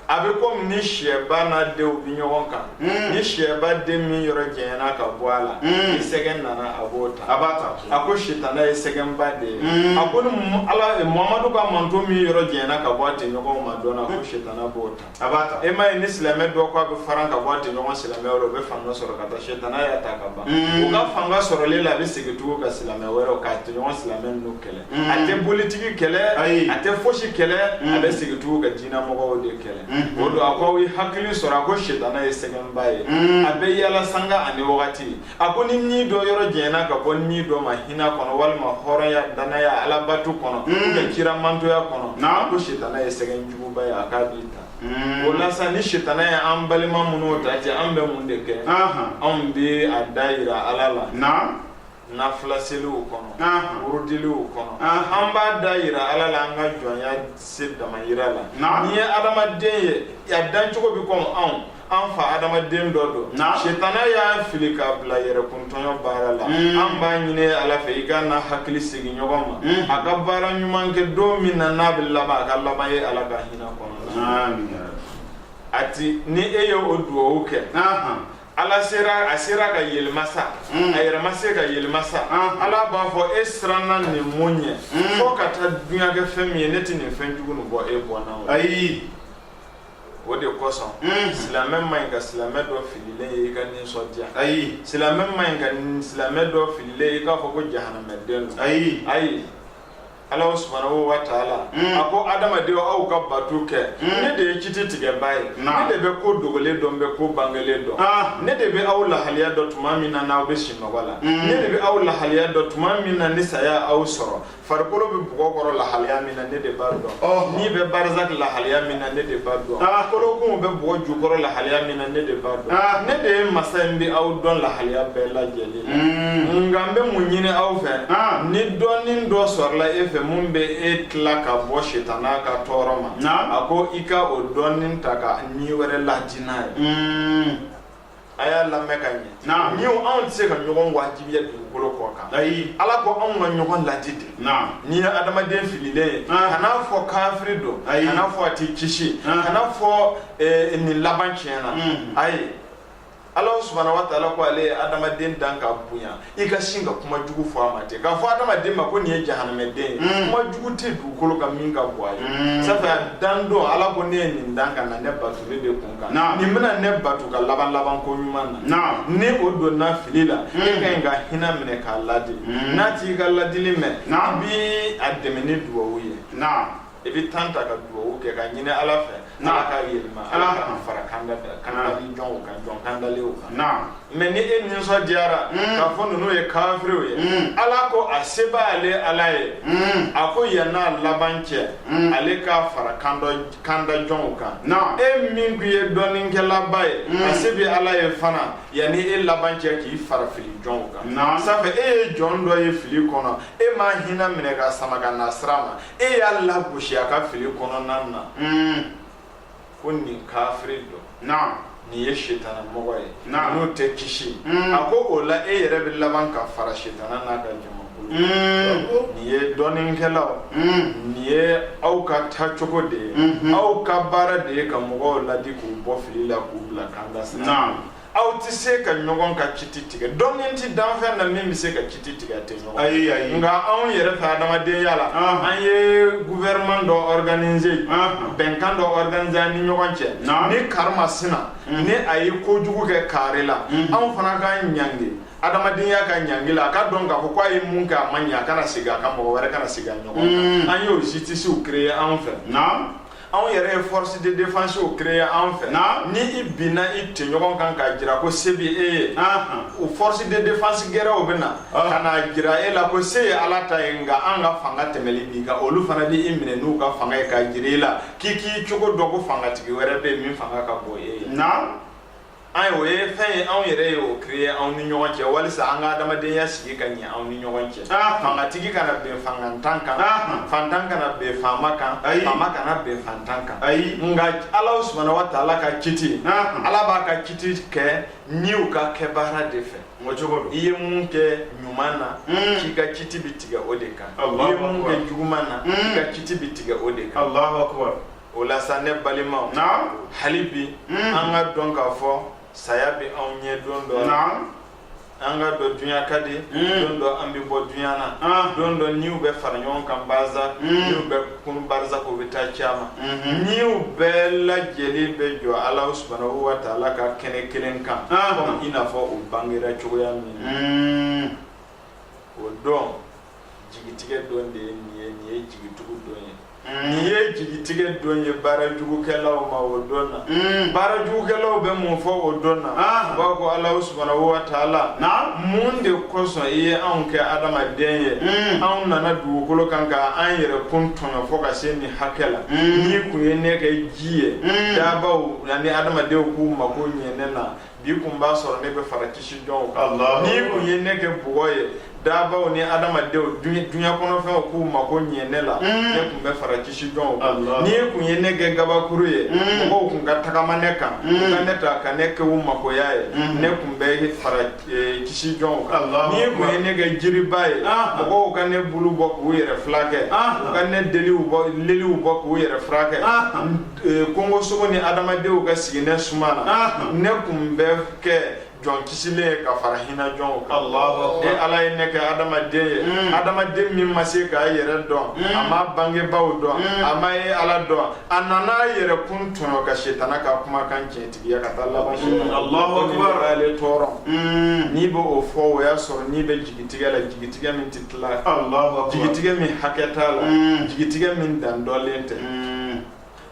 a bɛ komi ni sɛba n'a denw bɛ ɲɔgɔn kan ni sɛba den min yɔrɔ janyana ka bɔ a la ni sɛgɛn nana a b'o ta a b'a ta a ko sitana ye sɛgɛnba de ye a ko ni ala mamadu ka manto min yɔrɔ janyana ka bɔ a tɔɲɔgɔn na dɔrɔn a ko sitana b'o ta a b'a ta e m'a ye ni silamɛ dɔ ko a bɛ faran ka bɔ a tɛɲɔgɔn silamɛw la o bɛ fanga sɔrɔ ka taa sɛtana y'a ta ka ban o ka fanga sɔrɔlen la a bɛ segin tugu ka silamɛ wɛrɛ k'a tɛɲɔgɔn silamɛ ninnu kɛlɛ a tɛ politigi kɛlɛ a tɛ fosi kɛlɛ a bɛ segin tugu ka diinɛmɔgɔw de kɛlɛ o don a ko aw ye hakili sɔrɔ a ko sɛtana ye sɛgɛnba ye a bɛ yala sanga ani wagati a ko ni ni dɔ yɔrɔ janyana ka bɔ ni dɔ ma hinɛ kɔnɔ walima hɔrɔnya danaya alabato kɔnɔ mm. ka kira mantonya kɔnɔ a ko sitana ye sɛgɛn juguba ye a k'a b'i ta mm. o la sa ni sitana ye an balima minnu ta cɛ an bɛ mun de kɛ anw bɛ a da yira ala la nafila seliw kɔnɔ wurudiliw kɔnɔ an b'a da yira ala la an ka jɔnya se dama yira la nin ye adamaden ye a dancogo bɛ kɔmi anw an fa adama den dɔ don setana y'a fili k'a bila yɛrɛkuntɔɲɔ baara la hmm. an b'a ɲini ala fɛ i ka n'a hakili segin ɲɔgɔn ma hmm. a ka baara ɲuman kɛ don min na n'a bɛ laban a ka laban e ala ka hinɛ kɔnɔ hatɛ ni e ye o dugawu kɛ ala sera a sera ka yɛlɛma sa hmm. a yɛrɛ ma se ka yɛlɛma sa ala b'a fɔ e siranna nin mun ɲɛ fo ka taa duɲa kɛ fɛn min ye ne tɛ nin fɛn jugu nin bɔ e bɔnna o ayi o de kosɔn mm. silamɛ man ɲi ka silamɛ dɔ fililen ye i ka nisɔndiya ayi silamɛ man ɲi ka silamɛ dɔ fililen ye i k'a fɔ ko jahanamɛden don ayi ayi ala subhanahu wa taala mm. a ko adamadenw aw ka bato kɛ mm. ne de ye kiti tigɛbaa ye ne de bɛ ko dogolen dɔn bɛ ko bangelen dɔn ah. ne de bɛ aw lahaliya dɔn tuma min na n'aw bɛ sinɔgɔ la ne de bɛ aw lahaliya dɔn tuma min na ni saya y'aw sɔrɔ farikolo bɛ bɔgɔ kɔrɔ lahaliya min na ne de b'a dɔn oh. ni bɛ barzaki lahaliya min na ne de b'a dɔn ah. kolokun bɛ bɔgɔ jukɔrɔ lahaliya min na ne de b'a dɔn ah. ne de ye masa ye n bɛ aw dɔn lahaliya bɛɛ lajɛlen na hmm. nka n bɛ mun ɲini aw fɛ ah. ni dɔnni dɔ sɔrɔla e fɛ mun bɛ e tila ka bɔ sitana ka tɔɔrɔ ma a ko i ka o dɔnni ta ka ni wɛrɛ ladi n'a ye hmm. a y'a lamɛn ka ɲɛ naam ni anw tɛ se ka ɲɔgɔn wajibiya dugukolo kɔ kan ayi ala ko anw ka ɲɔgɔn ladi de naam n'i ye adamaden fililen ye ah. kan'a fɔ kafiri don ayi kan'a fɔ a tɛ kisi ah. kan'a fɔ eh, nin laban tiɲɛna hmm. ayi ala subhanahu wa taala ko ale ye adamaden dan ka bonya i ka sin ka kuma jugu fɔ a ma ten k'a fɔ adamaden ma ko nin ye jahanamɛden ye mm. kuma jugu tɛ dugukolo kan min ka bon a ye mm. sanfɛ dan don ala ko ne ye nin dan ka na ne bato ne de kun kan nin bɛna ne bato ka laban laban ko ɲuman na ni o donna fili la mm. e ka ɲi ka hinɛ minɛ k'a ladi n'a t'i ka ladili mɛn i bi a dɛmɛ ni dugawu ye i bɛ tan ta ka dugawu kɛ k'a ɲini Ala fɛ Ala k'a yɛlɛma Ala ka n'a fara kandali jɔnw kan jɔn kandalenw kan mais ni e nisɔndiyara hmm. k'a fɔ ninnu ye kafiriw ye hmm. Ala ko a se b'ale Ala ye hmm. a ko yann'a laban cɛ ale k'a fara kanda jɔnw kan e min tun ye dɔnnikɛlaba ye a se bɛ Ala ye fana yanni e laban cɛ k'i fara fili jɔnw kan sabu e ye jɔn dɔ ye fili kɔnɔ e m'a hinɛ minɛ k'a sama ka na sira ma e y'a lagosi a ka fili kɔnɔna na ko nin kafiri don nin ye sitana mɔgɔ ye n'o tɛ kisi a ko o la e yɛrɛ bɛ laban ka fara sitana n'a ka jamakulu nin ye dɔnnikɛlaw nin ye aw ka taacogo de ye aw ka baara de ye ka mɔgɔw ladi k'u bɔ fili la k'u bila kanda sira aw tɛ se ka ɲɔgɔn ka kiti tigɛ dɔnni tɛ danfɛn na min bɛ se ka kiti tigɛ a tɔɲɔgɔn ayi ayi nka anw yɛrɛ fɛ adamadenya la an ye gouvernement dɔ organiser bɛnkan dɔ organiser an ni ɲɔgɔn cɛ ni kari maasina ni a ye kojugu kɛ kari la anw fana k'a ɲangi adamadenya ka ɲangi la a k'a dɔn k'a fɔ ko a ye mun kɛ a ma ɲɛ a kana segin a kan mɔgɔ wɛrɛ kana segin a ɲɔgɔn na an y'o justicew créer anw fɛ anw yɛrɛ ye force de défensew créer anw fɛ ni i binna i tɔɲɔgɔn kan k'a jira ko se bɛ e ye o force de défense gɛrɛw bɛ na ka n'a jira e la ko se ye Ala ta ye nka an ka fanga tɛmɛlen b'i kan olu fana di i minɛ n'u ka fanga ye k'a jira i la k'i k'i cogo dɔn ko fangatigi wɛrɛ bɛ yen min fanga ka bon e ye. ayi o ye fɛn ye anw yɛrɛ ye o créé anw ni ɲɔgɔn cɛ walisa an ka adamadenya sigi ka ɲɛ anw ni ɲɔgɔn cɛ fangatigi kana bin fangantan kan fantan kana bin faama kan faama kana bin fantan kan ayi nka ala subahana wa taala ka kiti ala b'a ka kiti kɛ niw ka kɛbaara de fɛ o cogo don i ye mun kɛ ɲuman na hmm. k'i ka kiti bi tigɛ o de kan i ye mun kɛ juguman na hmm. k'i ka kiti bi tigɛ o de kan o la sa ne balimaw hali bi an k'a dɔn k'a fɔ saya bɛ anw ɲɛ don dɔ la an k'a dɔn dunya ka di don dɔ an bɛ bɔ dunya na don dɔ niw bɛ fara ɲɔgɔn kan baza niw bɛ kunun barazaku bɛ taa kiyama niw bɛɛ lajɛlen bɛ jɔ ala subhanahu wa ta'ala ka kɛnɛ kelen kan komi i n'a fɔ u bangera cogoya min o don jigitigɛ don de ye nin ye nin ye jigitugu don ye hmm. nin ye jigitigɛ don ye baara jugukɛlaw ma o don na hmm. baara jugukɛlaw bɛ mun fɔ o don na ah. u b'a ko ala subana wa taala mun de kosɔn i ye anw kɛ adamaden ye hmm. anw nana dugukolo kan ka an yɛrɛkun tɔɲɔ fɔ ka se nin hakɛ la n'i kun ye ne kɛ ji ye daabaw ani adamadenw k'u mako ɲɛ ne na bi kun b'a sɔrɔ ne bɛ fara kisi jɔnw kan n'i kun ye ne kɛ bɔgɔ ye dabaw ni adamadenw dunya kɔnɔfɛnw k'u mako ɲɛ ne la mm. ne kun bɛ fara kisi jɔnw kan n'i kun ye ne kɛ gabakuru ye mm. mɔgɔw kun ka tagama ne kan mm. u ka ne ta ka ne kɛ u makoya ye ne kun bɛ fara e, kisi jɔnw kan n'i kun ye ne kɛ jiriba ye ah. mɔgɔw ka ne bulu bɔ k'u yɛrɛ furakɛ ah. u ka ne leliw bɔ k'u yɛrɛ furakɛ ah. Kongosogo ni adamadenw ka sigi ne suma na ne kun bɛ kɛ jɔn kisilen ye ka fara hinɛ jɔnw kan e ala ye ne kɛ adamaden ye adamaden min ma se k'a yɛrɛ dɔn a m'a bangebaw dɔn a ma e ala dɔn a nan'a yɛrɛ kun tɔɲɔ ka setana ka kumakan tiɲɛtigiya ka taa laban ale tɔɔrɔ n'i bɛ o fɔ o y'a sɔrɔ n'i bɛ jigitigɛ la jigitigɛ min tɛ jigitigɛ min hakɛ t'a la mm. jigitigɛ min dan dɔlen tɛ mm.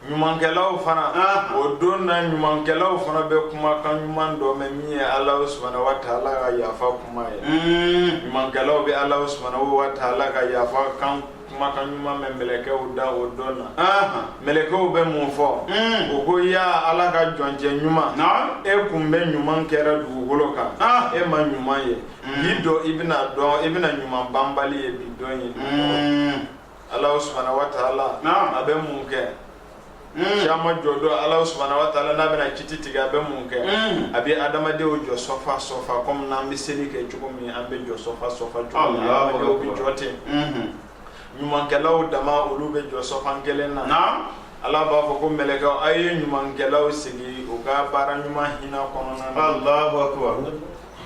ɲumankɛlaw fana ah. o don na ɲumankɛlaw fana bɛ kumakan ɲuman dɔ mɛn min ye alahu subana wa taala ka yafa kuma ye mm. ɲumankɛlaw bɛ alahu subana wa taala ka yafa kumakan ɲuman mɛn mɛlɛkɛw da o don na mɛlɛkɛw bɛ mun fɔ hmm. o ko ya ala ka jɔncɛ ɲuman e kun bɛ ɲuman kɛra dugukolo kan e ma ɲuman ye mm. bi don i bɛna i bɛna ɲuman banbali ye bi don ye mm. ala subahana wa taala a bɛ mun kɛ mm. kiyama jɔ don ala subahana wa taala n'a bɛna kiti tigɛ a bɛ mun kɛ a bɛ adamadenw jɔ sɔfa sɔfa kɔmi n'an bɛ seli kɛ cogo min an bɛ jɔ sɔfa sɔfa cogo min adamadenw bɛ jɔ ten mm-hmm. ɲumankɛlaw dama olu bɛ jɔ sɔfan kelen na ala b'a fɔ ko mɛlɛkɛw a ye ɲumankɛlaw sigi u ka baara ɲuman hinɛ kɔnɔna na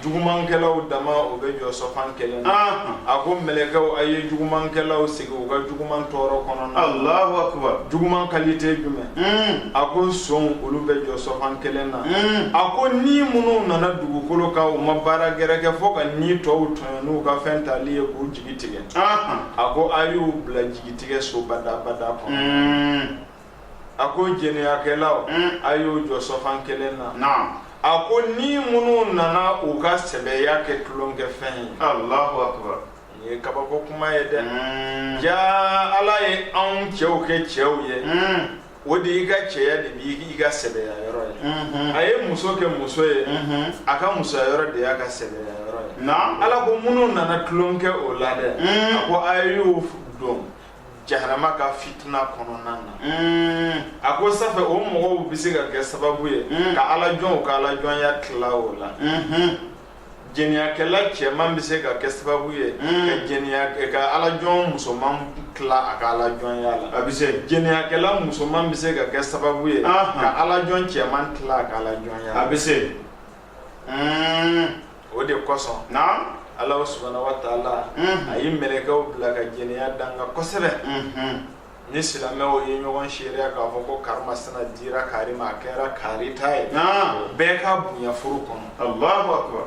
jugumankɛlaw dama o bɛ jɔ sɔfan kelen na Anhan. a ko mɛlɛkɛw a ye jugumankɛlaw sigi u ka juguman tɔɔrɔ kɔnɔna na Allahu akbar. juguman kalite jumɛn Mm. a ko sonw olu bɛ jɔ sɔfan kelen na Mm. a ko ni minnu nana dugukolo kan u ma baara gɛrɛ kɛ fo ka ni tɔw tɔɲɔ n'u ka fɛn tali ye k'u jigi tigɛ Anhan. a ko a y'u bila jigitigɛ so badabada kɔnɔ Mm. a ko jɛnɛyakɛlaw a y'u jɔ sɔfan kelen na a ko ni minnu nana u ka sɛbɛya kɛ tulonkɛfɛn ye Allahu akbar nin ye kabako kuma ye dɛ mm. ja ala ye anw cɛw kɛ cɛw ye mm. o de i ka cɛya de b'i ka sɛbɛya yɔrɔ ye mm-hmm. a ye muso kɛ muso ye mm-hmm. a ka musoya yɔrɔ de y'a ka sɛbɛya yɔrɔ ye ala ko minnu nana tulon kɛ o la dɛ mm. a ko a y'u don jahanama ka fitina kɔnɔna na mm. a ko sanfɛ o mɔgɔw bɛ se ka kɛ sababu ye mm. ka ala jɔnw ka ala jɔnya tila o la mm-hmm. jɛniyakɛla cɛman bɛ se ka kɛ sababu ye mm. ka jɛniya ka ala jɔn musoman tila a ka ala jɔnya la a bɛ se jɛniyakɛla musoman bɛ se ka kɛ sababu ye ka ala jɔn cɛman tila a ka ala jɔnya a bɛ se o de kosɔn alahu subahanahu wa taala a ye mɛlɛkɛw bila ka jɛnɛya danga kosɛbɛ ni silamɛw ye ɲɔgɔn seereya k'a fɔ ko karimasina dira kari ma a kɛra kari ta ye bɛɛ k'a bonya furu kɔnɔ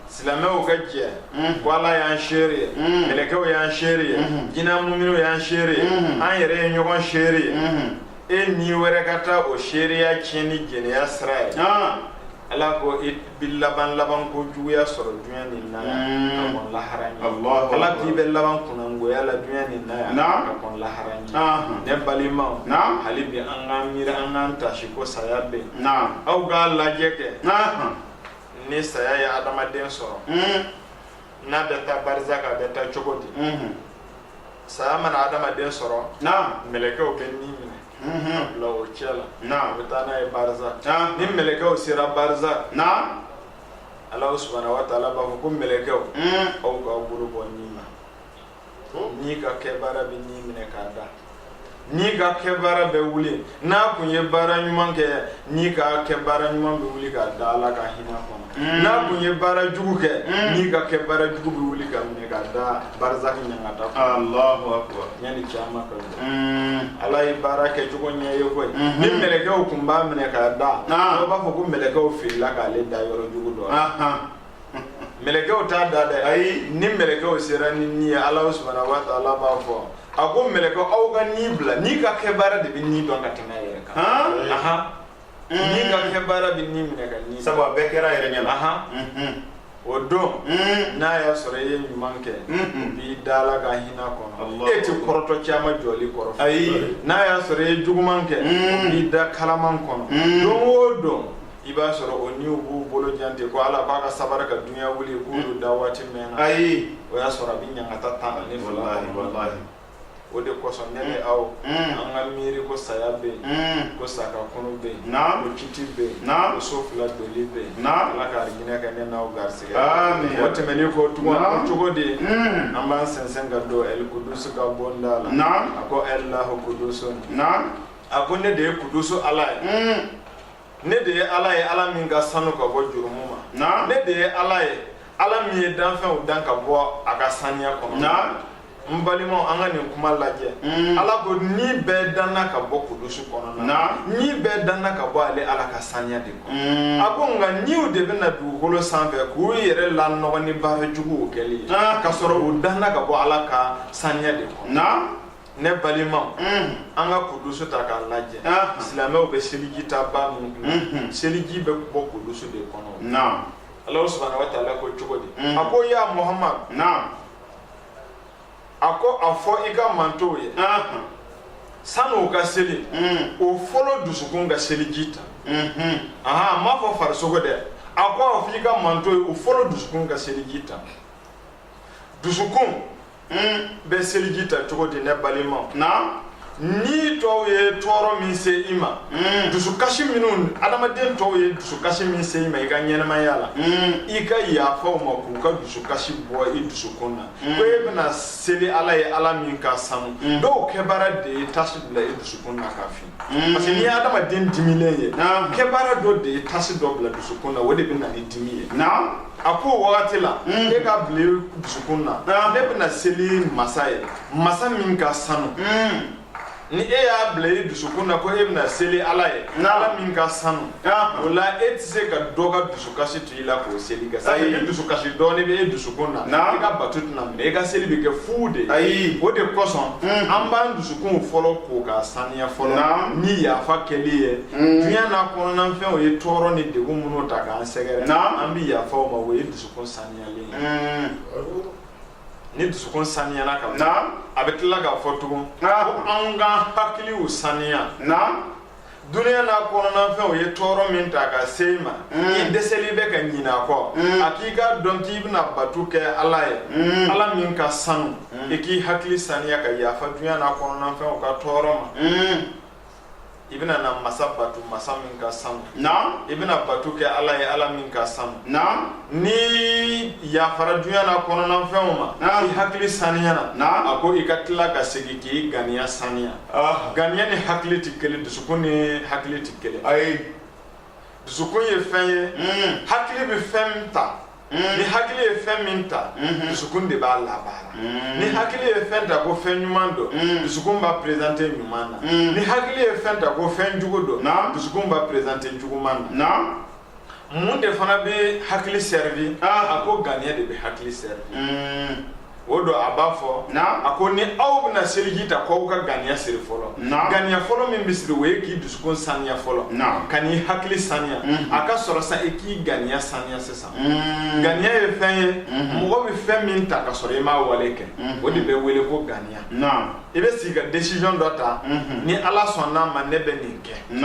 silamɛw ka jɛ ko ala y'an seere ye mɛlɛkɛw y'an seere ye jinɛ muminiw y'an seere ye an yɛrɛ ye ɲɔgɔn seere ye e ni wɛrɛ ka taa o seereya tiɲɛ ni jɛnɛya sira ye ala ko i bɛ laban labankojuguya sɔrɔ dunya nin na yan ka kɔn lahara ɲɛ ala k'i bɛ laban kunnangoya la dunya nin na yan ka kɔn lahara ɲɛ ne balimaw hali bi an k'an miiri an k'an taasi ko saya bɛ yen aw k'a lajɛ kɛ ni saya ye adamaden sɔrɔ hmm. n'a bɛ taa barazaki a bɛ taa cogo di hmm. saya mana adamaden sɔrɔ mɛlɛkɛw bɛ ni minɛ hmm. bila o cɛ la u bɛ taa n'a ye barazaki ni mɛlɛkɛw sera barazaki ala subahana wa taala b'a fɔ ko mɛlɛkɛw aw k'aw bolo bɔ ni ni ka kɛ baara bɛ ni minɛ k'a da ni ka kɛ baara bɛ wuli n'a kun ye baara ɲuman kɛ ni ka kɛ baara ɲuman bɛ wuli k'a da ala ka hinɛ kɔnɔ mm. n'a kun ye baara jugu kɛ mm. ni ka kɛ baara jugu bɛ wuli k'a minɛ k'a da barazaki ɲangata kɔnɔ yanni kiyama ka mm. ala ye baara kɛ cogo ɲɛ ye koyi mm-hmm. ni mɛlɛkɛw kun b'a minɛ k'a da dɔw b'a fɔ ko mɛlɛkɛw filila k'ale da yɔrɔ jugu dɔ mɛlɛkɛw t'a da dɛ ayi ni mɛlɛkɛw sera ni ni ye ala subahana wa taala b'a fɔ a ko mɛlɛkɛw aw ka ni bila ni ka kɛ baara de bɛ ni dɔn ka tɛmɛ a yɛrɛ kan ahan ni ka kɛ baara bɛ ni minɛ ka ni sabu a bɛɛ kɛra a yɛrɛ ɲɛna ahan o don n'a y'a sɔrɔ i ye ɲuman kɛ b'i da ala ka hinɛ kɔnɔ e tɛ kɔrɔtɔ kiyama jɔli kɔrɔ ayi n'a y'a sɔrɔ i ye juguman kɛ b'i da kalaman kɔnɔ don o don i b'a sɔrɔ o niw b'u bolo jan ten ko ala k'a ka sabara ka dunya wuli k'olu da waati mɛnna ayi o y'a sɔrɔ a bɛ ɲangata tan ani fila o de kosɔn ne ni aw an ka miiri ko saya bɛ yen ko sa ka kunu bɛ yen ko kiti bɛ yen ko so fila doli bɛ yen ala ka hinɛ kɛ ne n'aw garisigɛ o tɛmɛnen kɔ tugun o cogo de an b'an sɛnsɛn ka don ɛli kudusu ka bonda la a ko alahu kudusu a ko ne de ye kudusu ala ye ne de ye ala ye ala min ka sanu ka bɔ jurumu ma ne de ye ala ye ala min ye danfɛnw dan ka bɔ a ka saniya kɔnɔ n balimaw an ka nin kuma lajɛ mm. ala ko ni bɛɛ danna ka bɔ kudusu kɔnɔ na ni bɛɛ danna ka bɔ ale ala ka saniya de kɔnɔ mm. a ko nka niw de bɛ na dugukolo sanfɛ k'u yɛrɛ lanɔgɔ ni baara juguw kɛli ye ah. k'a sɔrɔ u danna ka bɔ ala ka saniya de kɔnɔ ne balima an ka kudusu ta k'a lajɛ silamɛw bɛ seliji ta ba minnu bila seliji bɛ bɔ kudusu de kɔnɔ ala subhanahu wa taala ko cogo di a ko ya muhamadu a ko a fɔ i ka mantow ye sani u ka seli o fɔlɔ dusukun ka seliji ta a m'a fɔ farisogo dɛ a ko a fɔ i ka mantow ye o fɔlɔ dusukun ka seliji ta dusukun bɛ seliji ta cogo di ne balima na ni tɔw ye tɔɔrɔ min se i ma hmm. dusukasi minnu adamaden tɔw ye dusukasi min se i ma i ka ɲɛnamaya la hmm. i ka yafa u ma k'u ka dusukasi bɔ i dusukun na hmm. ko e bɛna seli ala ye ala min ka sanu dɔw kɛbaara de ye tasi bila i dusukun na ka fin Mm. Parce que n'i ye adamaden dimilen ye, naamu, kɛbaara dɔ de ye tasi dɔ bila dusukun na, o de bɛ na ni dimi ye. Naamu. A ko o wagati la, mm. e k'a bila i dusukun na, ne bɛna seli masa ye, masa min ka sanu. Mm. ni e y'a bila i dusukun na ko e bɛna seli ala ye ala min ka sanu o la e tɛ se ka dɔ ka dusu kasi t'i la k'o seli kɛ sabu ni dusukasi dɔɔni bɛ e dusukun na i ka bato tɛna minɛ i ka seli bɛ kɛ fu de ayi o de kosɔn an b'an dusukunw fɔlɔ ko k'a saniya fɔlɔ ni yafa kɛli ye dunya n'a kɔnɔnafɛnw ye tɔɔrɔ ni degun minnu ta k'an sɛgɛrɛ an bɛ yafa o ma o ye dusukun saniyalen ye ni dusukun saniyana ka ban a bɛ tila k'a fɔ tugun ko an k'an hakiliw saniya. Dunya n'a kɔnɔna fɛnw ye tɔɔrɔ min ta ka se i ma i dɛsɛlen bɛ ka ɲina a kɔ a k'i k'a dɔn k'i bɛna batu kɛ ala ye ala min ka sanu i k'i hakili saniya ka yafa dunya n'a kɔnɔna fɛnw ka tɔɔrɔ ma i bɛna na masa batu masa min ka sanu i bɛna batu kɛ ala ye ala min ka sanu n'i yafara dunya n'a kɔnɔna fɛnw ma i hakili saniya a ko i ka tila ka segin k'i ŋaniya saniya Aa ŋaniya ni hakili tɛ kelen dusukun ni hakili tɛ kelen ayi dusukun ye fɛn ye mm. hakili bɛ fɛn ta mm. ni hakili ye fɛn min ta mm-hmm. dusukun de b'a labaara mm. ni hakili ye fɛn ta ko fɛn ɲuman don dusukun b'a présenter ɲuman na ni hakili ye fɛn ta ko fɛn jugu don dusukun b'a présenter juguman na mun de fana bɛ hakili servi a ko ganiya de bɛ hakili servi o don a b'a fɔ a ko ni aw bɛna seliji ta ko aw ka ganiya siri fɔlɔ ganiya fɔlɔ min bɛ siri o ye k'i dusukun saniya fɔlɔ ka n'i hakili saniya a ka sɔrɔ sa i k'i ganiya saniya sisan ganiya ye fɛn ye mɔgɔ bɛ fɛn min ta ka sɔrɔ i m'a wale kɛ o de bɛ wele ko ganiya i bɛ sigi ka décision dɔ ta ni ala sɔnna n'a ma ne bɛ nin kɛ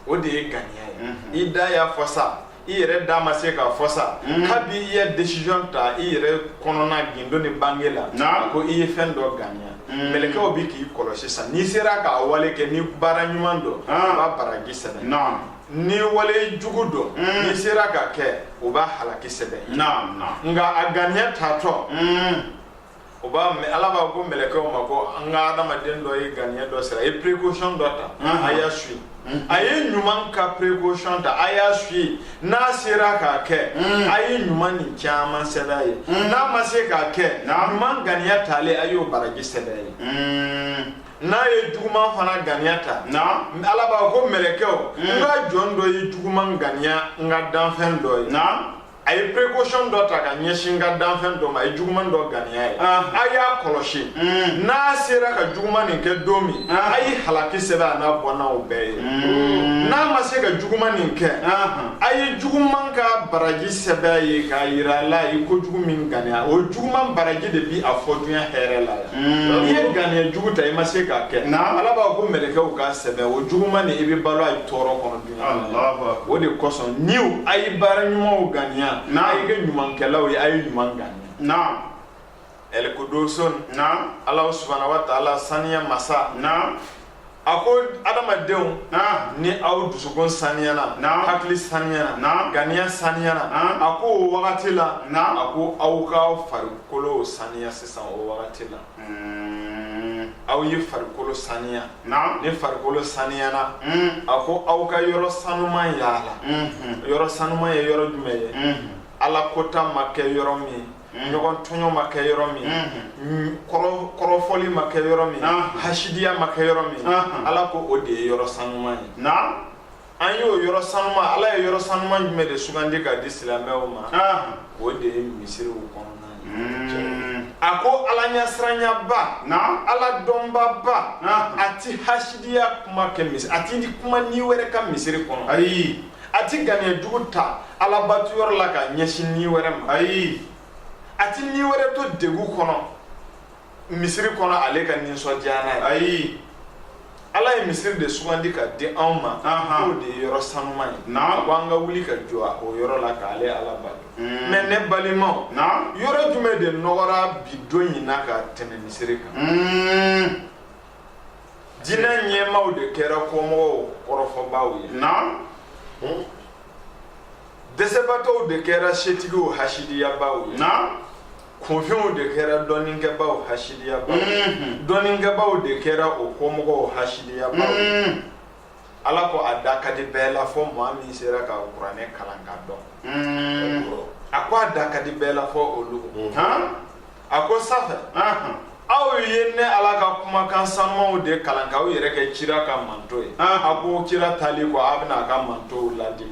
o de ye ganiya ye mhm. i da y'a fɔ sa i yɛrɛ da ma se k'a fɔ sa mhm. kabi i ye décision ta i yɛrɛ kɔnɔna gindo ni bange la ko i ye fɛn dɔ ganiya mhm. mɛlɛkɛw bi k'i kɔlɔsi sa n'i sera k'a wale kɛ ni baara ɲuman don ah. u b'a baraji sɛbɛn ni wale jugu don mm. n'i sera k'a kɛ u b'a halaki sɛbɛn nka a ganiya taatɔ mm. o b'a ala b'a ko mɛlɛkɛw ma ko n ka adamaden dɔ ye ganiya dɔ siri a ye précaution dɔ ta a y'a suit a ye ɲuman ka précaution ta a y'a suit n'a sera k'a kɛ a ye ɲuman nin caman sɛbɛn a ye n'a ma se k'a kɛ ɲuman ganiya talen a y'o baraji sɛbɛn a ye n'a ye juguman fana ganiya ta ala b'a ko mɛlɛkɛw n ka jɔn dɔ ye juguman ganiya n ka danfɛn dɔ ye a ye précaution dɔ ta ka ɲɛsin n ka danfɛn dɔ ma a ye juguman dɔ ganiya ye a y'a kɔlɔsi hmm. n'a sera ka juguman nin kɛ don min a ye halaki sɛbɛn a n'a bɔnnaw bɛɛ ye hmm. n'a ma se ka juguman nin kɛ a ye juguman ka baraji sɛbɛn ye k'a yira a la a ye kojugu min ganiya o juguman baraji de bi a fɔ dunya hɛrɛ la yan hmm. n'i ye ganiya jugu ta i ma se k'a kɛ ala b'a ko mɛlɛkɛw k'a sɛbɛn o juguman nin i bɛ balo a ye tɔɔrɔ kɔnɔ o de kosɔn ni a ye baara ɲumanw ganiya a ye kɛ ɲumankɛlaw ye a ye ɲuman ganiya o de kosɔn ala subhanahu wa taala saniya masa a ko adamadenw ni aw dusukun saniyana hakili saniyana ganiya saniyana a ko o wagati la a ko aw ka farikolo saniya sisan o wagati la aw ye farikolo saniya ni farikolo saniyana a ko aw ka yɔrɔ sanuman yaala yɔrɔ sanuman ye yɔrɔ jumɛn ye ala kota ma kɛ yɔrɔ min ɲɔgɔn tɔɲɔ ma kɛ yɔrɔ min kɔrɔfɔli ma kɛ yɔrɔ min hasidiya ma kɛ yɔrɔ min ala ko o de ye yɔrɔ sanuman ye an y'o yɔrɔ sanuma ala ye yɔrɔ sanuma jumɛn de sugandi ka di silamɛw ma ah. o de ye misiriw kɔnɔna hmm. a ko ala ɲɛsiranyaba ala dɔnbaba a ti hasidiya kuma kɛ misiri a ti kuma ni wɛrɛ kan misiri kɔnɔ ayi a ti ganiya jugu ta alabatu yɔrɔ la ka ɲɛsin ni wɛrɛ ma ayi a ti ni wɛrɛ to degun kɔnɔ misiri kɔnɔ ale ka nisɔndiya n'a ye ayi ala ye misiri de sugandi ka di anw ma k'o de ye yɔrɔ sanuman ye ko an ka wuli ka jɔ o yɔrɔ la k'ale ala bato hmm. mɛ ne balimaw yɔrɔ jumɛn de nɔgɔra bi don in na ka tɛmɛ misiri kan hmm. diinɛ ɲɛmaaw de kɛra kɔmɔgɔw kɔrɔfɔbaaw ye hmm. dɛsɛbatɔw de kɛra setigiw hasidiyabaaw ye kunfɛnw de kɛra dɔnnikɛbaaw hasidiyabaaw mm-hmm. dɔnnikɛbaaw de kɛra o kɔmɔgɔw hasidiyabaaw mm-hmm. ala ko a da ka di bɛɛ la fɔ maa min sera ka kuranɛ kalan ka dɔn mm-hmm. a ko a da ka di bɛɛ la fɔ olu a ko sanfɛ aw ye ne ala ka kumakan sanumanw de kalan k'aw yɛrɛ kɛ kira ka manto ye a ko kira taali kɔ aw bɛna a ka mantow ladi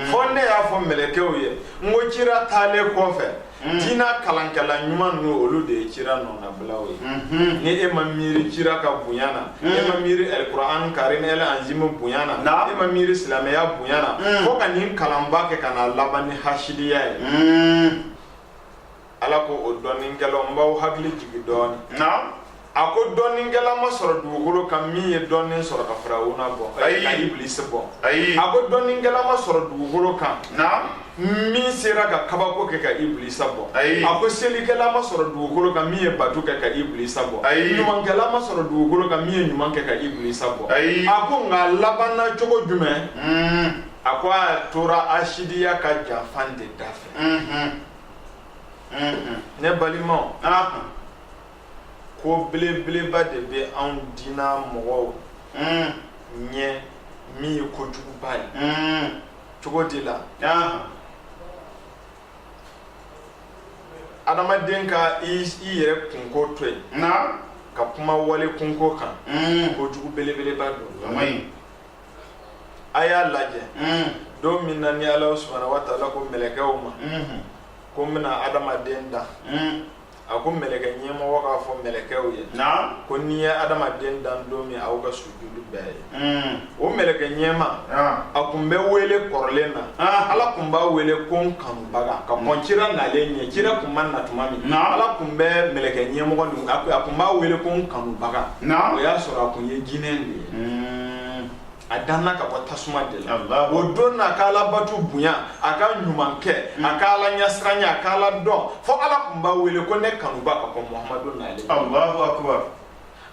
fo ne y'a fɔ mɛlɛkɛw ye n ko kira taalen kɔfɛ Mm. diinɛ kalankɛla ɲuman ninnu olu de ye cira nɔnabilaw ye mm-hmm. ni e ma miiri cira ka bonya na mm. e ma miiri alikuran karimu al anzimu bonya na e ma miiri silamɛya bonya na mm. fo ka nin kalanba kɛ ka na laban ni hasidiya ye ala ko o dɔnnikɛlaw n b'aw hakili jigi dɔɔni a ko dɔnnikɛla ma sɔrɔ dugukolo kan min ye dɔnni sɔrɔ ka firawuna bɔ ayi ka ibilisi bɔ ayi a ko dɔnnikɛla ma sɔrɔ dugukolo kan min sera ka kabako kɛ ka ibilisa bɔ ayi a ko selikɛla ma sɔrɔ dugukolo kan min ye bato kɛ ka ibilisa bɔ ayi ɲumankɛla ma sɔrɔ dugukolo kan min ye ɲuman kɛ ka ibilisa bɔ ayi a ko nka labanna cogo jumɛn hmm. a ko a tora hasidiya ka janfa de da fɛ hmm, hmm. ne balimaw ko belebeleba de bɛ anw dina mɔgɔw hmm. ɲɛ min ye kojuguba ye hmm. cogo di la adamaden ka i yɛrɛ kunko to yen ka kuma wali kunko kan hmm. kojugu belebeleba don a y'a lajɛ don min na ni ala subahana wa taala ko mɛlɛkɛw ma ko n bɛna adamaden da a ko mɛlɛkɛ ɲɛmɔgɔ k'a fɔ mɛlɛkɛw ye ko ni n ye adamaden dan don min aw ka sujudu bɛɛ ye hmm. o mɛlɛkɛ ɲɛmaa a kun bɛ wele kɔrɔlen na ala kun b'a wele ko n kanubaga ka kɔn cira nalen ɲɛ cira kun ma na tuma min ala kun bɛ mɛlɛkɛ ɲɛmɔgɔ nin a kun b'a wele ko n kanubaga o y'a sɔrɔ a kun ye jinɛ de ye hmm. a danna ka bɔ tasuma de la Allahu o don na a ka ala bato bonya a ka ɲuman kɛ a ka ala ɲasiranya a ka ala dɔn fo ala kun b'a wele ko ne kanubaa ka kɔn muhamadu nalen Allahu akbar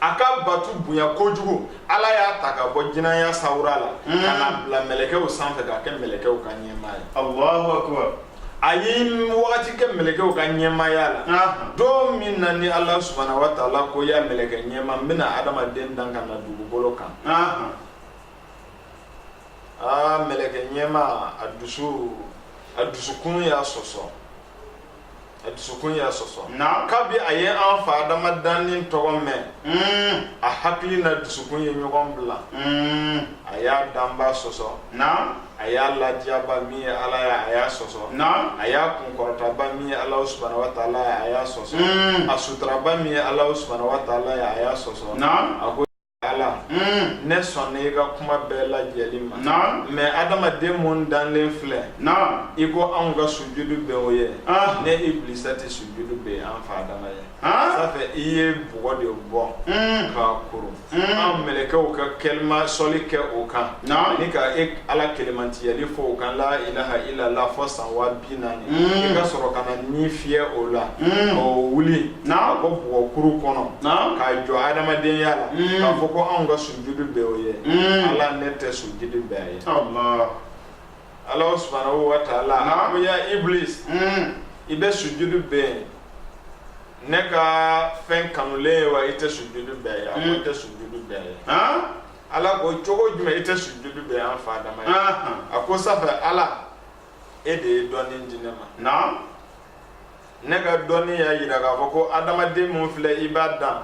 a ka bato bonya kojugu ala y'a ta ka bɔ jinɛya sawura la ka n'a bila mɛlɛkɛw sanfɛ k'a kɛ mɛlɛkɛw ka ɲɛmaa ye Allahu akbar a ye wagati kɛ mɛlɛkɛw ka ɲɛmaaya la anhan don min na ni Alahu subahana wataala ko yaa mɛlɛkɛ ɲɛma n bɛna adamaden dan ka na dugukolo kan anhan aa mɛlɛkɛ ɲɛma a dusu a dusukun y'a sɔsɔ a dusukun y'a sɔsɔ naam kabi a ye an fa adama danni tɔgɔ mɛn mm a hakili na dusukun ye ɲɔgɔn bila mm a y'a danba sɔsɔ naam a y'a ladiyaba min ye ala ye a y'a sɔsɔ na a y'a kunkɔrɔtaba min ye ala subana wa taala ye a y'a sɔsɔ Mm. a suturaba min ye ala subana wa taala ye a y'a sɔsɔ na a ko ala Mm. ne sɔnna i ka kuma bɛɛ lajɛli ma na mɛ adamaden mun danlen filɛ na i ko anw ka sujudu bɛn o ye Ah. ne iblisa tɛ sujudu bɛn an fa adama ye ça fait i ye bɔgɔ de bɔ ka kuru an mɛlɛkɛw ka kela ma soli kɛ o kan ni ka e ala kelenmantiyali fɔ o kan la ilaha ilala fɔ san waa bi naani i ka sɔrɔ ka na ni fiyɛ o la o wuli ka bɔ bɔgɔ kuru kɔnɔ k'a jɔ adamadenya la k'a fɔ ko anw ka sujudu bɛn o ye ala ne tɛ sujudu bɛn a ye Ala subana wa taala an ya iblis hmm. i bɛ sujudu bɛn ne ka fɛn kanulen ye wa i tɛ sujudu bɛn a ye a ko hmm. n tɛ sujudu bɛn a ye ala ko cogo jumɛn i tɛ sujudu bɛn an fa adama ye a ko ça fait ala e de ye dɔnni di ne ma ne ka dɔnni y'a jira k'a fɔ ko adamaden min filɛ i b'a dan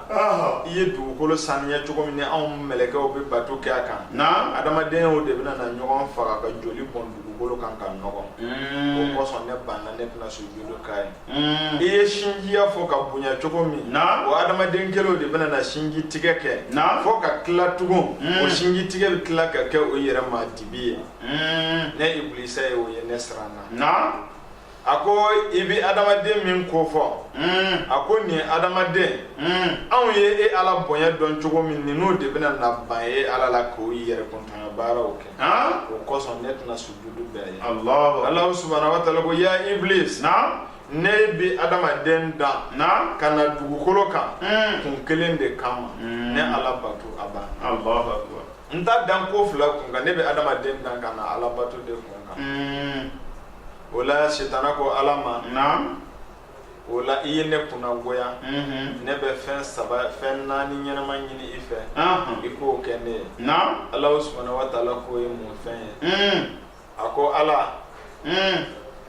i ye dugukolo saniya cogo min ni anw mɛlɛkɛw bɛ bato kɛ a kan adamadenw de bɛna na ɲɔgɔn faga ka joli bɔn dugukolo kan k'a nɔgɔ hmm. o kosɔn ne banna ne tɛna sujudu k'a ye hmm. i ye sinjiya fɔ k'a bonya cogo min o adamaden kelenw de bɛna na sinji tigɛ kɛ fɔ ka tila tugun hmm. o sinji tigɛ bɛ tila ka kɛ o yɛrɛ ma dibi ye ne ibilisa ye o ye ne siranna a ko i bɛ adamaden min ko fɔ hmm. a ko nin adamaden hmm. anw ye e ala bonya dɔn cogo min ninnu de bɛna na ban e ala la k'o yɛrɛ kuntanya baaraw kɛ o kosɔn ne tɛna sujudu bɛn a ye ala subahana wa taala ko ya iblis ne bɛ adamaden dan ka na dugukolo kan hmm. kun kelen de kama ne ala bato a ban n t'a dan ko fila kun kan ne bɛ adamaden dan ka na ala bato de kun kan o la sitana ko ala ma naamu o la i ye ne kunnagoya mhm. ne bɛ fɛn saba fɛn naani ɲɛnama ɲini i fɛ i k'o kɛ ne ye naamu alahu subana wa taala k'o ye mun fɛn ye mhm. a ko ala mhm.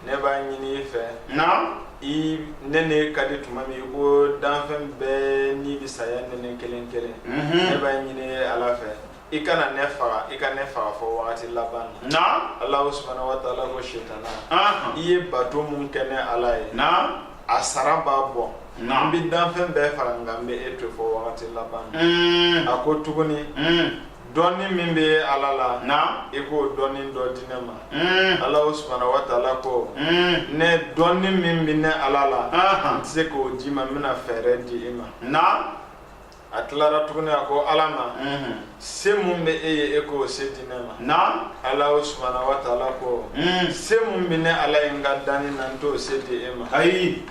ne b'a ɲini i fɛ naamu i ne ne ka di tuma min ko danfɛn bɛɛ ni bi saya nɛnɛ kelen kelen ne b'a ɲini ala fɛ i kana ne faga i ka ne faga fo wagati laban na naam alahu subahana wa taala ko sitana aha i ye bato mun kɛ ne ala ye naam a sara b'a bɔ n naam bɛ danfɛn bɛɛ faga nka n bɛ e to fo wagati laban na Mm, a ko tuguni mm, dɔnni min bɛ e ala la naam i k'o dɔnni dɔ di ne ma Mm, alahu subahana wa taala ko mm, ne dɔnni min bɛ ne ala la aha n tɛ se k'o di i ma n bɛna fɛɛrɛ di i ma naam a tilara tuguni a ko ala ma se min bɛ e ye e k'o se di ne ma alahu subahana wa taala ko se min bɛ ne ala ye n ka danni na n t'o se di e ma ayi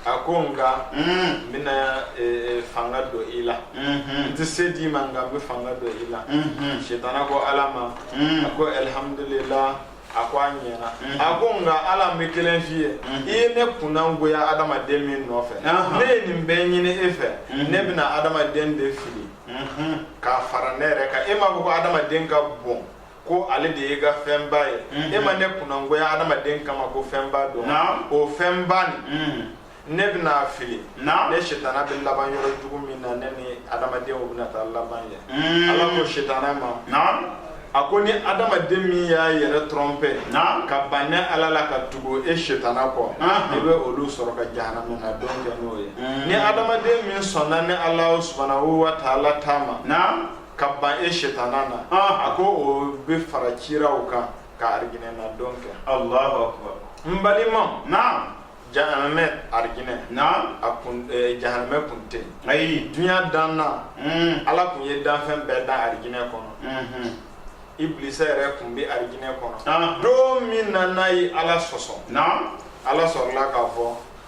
a ko nka n bɛna e, e, fanga don i la n tɛ se di i ma nka n bɛ fanga don i la sitana ko ala ma a ko alihamdulila a ko a ɲɛna a ko nka ala n bɛ kelen f'i ye i ye ne kunnangoya adamaden min nɔfɛ ne ye nin bɛɛ ɲini e fɛ ne bɛna adamaden de fili k'a fara ne yɛrɛ kan e m'a fɔ ko adamaden ka bon ko ale de ye i ka fɛnba ye e ma ne kunnangoya adamaden kama ko fɛnba don o fɛnba nin ne bɛn'a fili ne sitana bɛ laban yɔrɔ jugu min na ne ni adamadenw bɛna taa laban yen hmm. ala ko sitana ma a ko ni adamaden min y'a yɛrɛ trɔnpɛ ka ban ne ala la ka tugu e sitana kɔ i bɛ olu sɔrɔ ka jahanamɛ na don kɛ n'o ye hmm. ni adamaden min sɔnna ne ala subhanahu wa ta'ala ta ma ka ban e sitana na a ko o bɛ fara kiraw kan ka ariginɛ na don kɛ alahu akbar n balimaw naam jahanamɛ arigine na a kun eh, jahanamɛ kun tɛ yen ayi dunya danna mm ala kun ye danfɛn bɛɛ dan arigine kɔnɔ mhm iblisa yɛrɛ kun bɛ arigine kɔnɔ ah don min na n'a ye ala sɔsɔ naam ala sɔrɔla k'a fɔ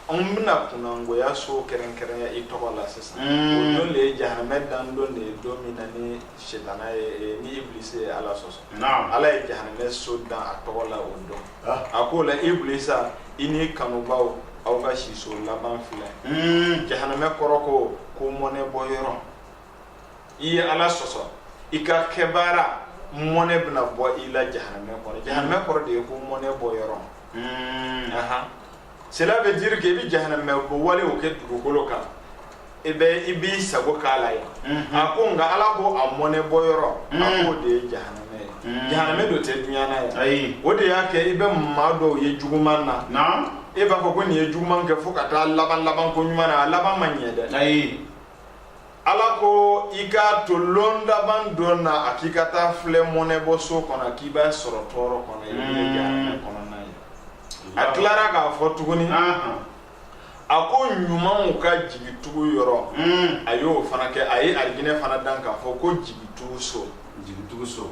anw bɛna kunnangoya so kɛrɛnkɛrɛnya i tɔgɔ la sisan Mm. o don de ye jahanamɛ dan don de ye don min na ni sitana ye eh, ni iblisa ye ala sɔsɔ naam ala ye jahanamɛ so dan a tɔgɔ la o don a ko la iblisa i ni kanubaw aw ka siso laban filɛ hmm. jahanamɛ kɔrɔ ko ko mɔnɛ bɔ yɔrɔ i ye ala sɔsɔ i ka kɛbaara mɔnɛ bɛna bɔ i la jahanamɛ kɔrɔ jahanamɛ kɔrɔ de ye ko mɔnɛ bɔ yɔrɔ hmm. cela veut dire que i bɛ jahanamɛ ko walew kɛ dugukolo kan i bɛ i b'i sago k'a la yan mhm. a ko nka ala ko a mɔnɛ bɔ yɔrɔ a mhm. k'o de ye jahanamɛ ye mhm. jahanamɛ don tɛ duɲa na yan ayi o de y'a kɛ i bɛ maa dɔw ye juguman na naam e b'a fɔ ko nin ye juguman kɛ fo ka taa laban laban ko ɲuman na a laban ma ɲɛ dɛ ayi ala ko i k'a to lon laban don na a k'i ka taa filɛ mɔnɛbɔ so kɔnɔ k'i b'a sɔrɔ tɔɔrɔ kɔnɔ i bɛ jahanamɛ mm. kɔnɔna ye a tilara k'a fɔ tuguni a ko ɲumanw ka jigitugu yɔrɔ mm. a y'o fana kɛ a ye alijinɛ fana dan k'a fɔ ko jigitugu so jigitugu so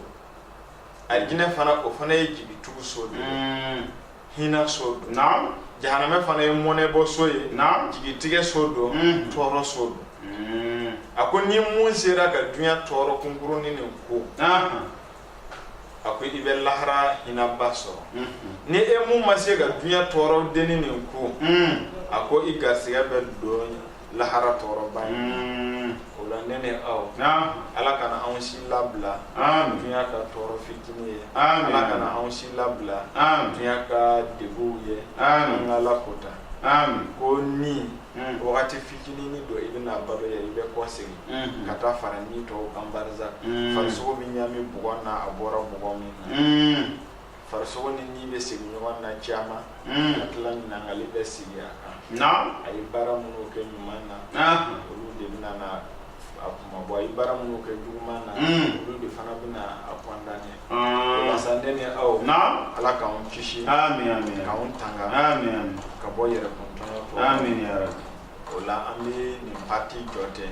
alijinɛ fana o fana ye jigitugu so de ye mm. hinɛ so don naam jahanamɛ fana ye mɔnɛbɔ so ye naam jigitigɛ so don mm. tɔɔrɔ so don mm. a ko ni mun sera ka duɲa tɔɔrɔ kunkurunin nin kun a ko i bɛ lahara hinaba sɔrɔ mm-hmm. ni e mun ma se ka duɲa tɔɔrɔ dennin nin kun mm. a ko i garisigɛ bɛ don lahara tɔɔrɔba ye mm. o la ne ni aw ala kana anw si labila dunya ka tɔɔrɔ fitinin ye ala kana anw si labila dunya ka deguw ye an ka ala ko ta ko ni mm. wagati fitinin nin don i bɛna balo yan i bɛ kɔsegin mm-hmm. ka taa fara ni tɔw kan barisa mm. farisogo bɛ ɲami bɔgɔ na a bɔra bɔgɔ min na mm. farisogo ni ni bɛ segin ɲɔgɔn na caman ka tila ɲininkali bɛ sigi a kan a ye baara minnu kɛ ɲuman na olu de bɛna na a kunmabɔ a ye baara minnu kɛ juguman na olu de fana bɛna a kɔndane walasa ne ni aw ala k'an kisi k'an tanga ka bɔ yɛrɛkun tɔɲɔ o la an bɛ nin pati jɔ ten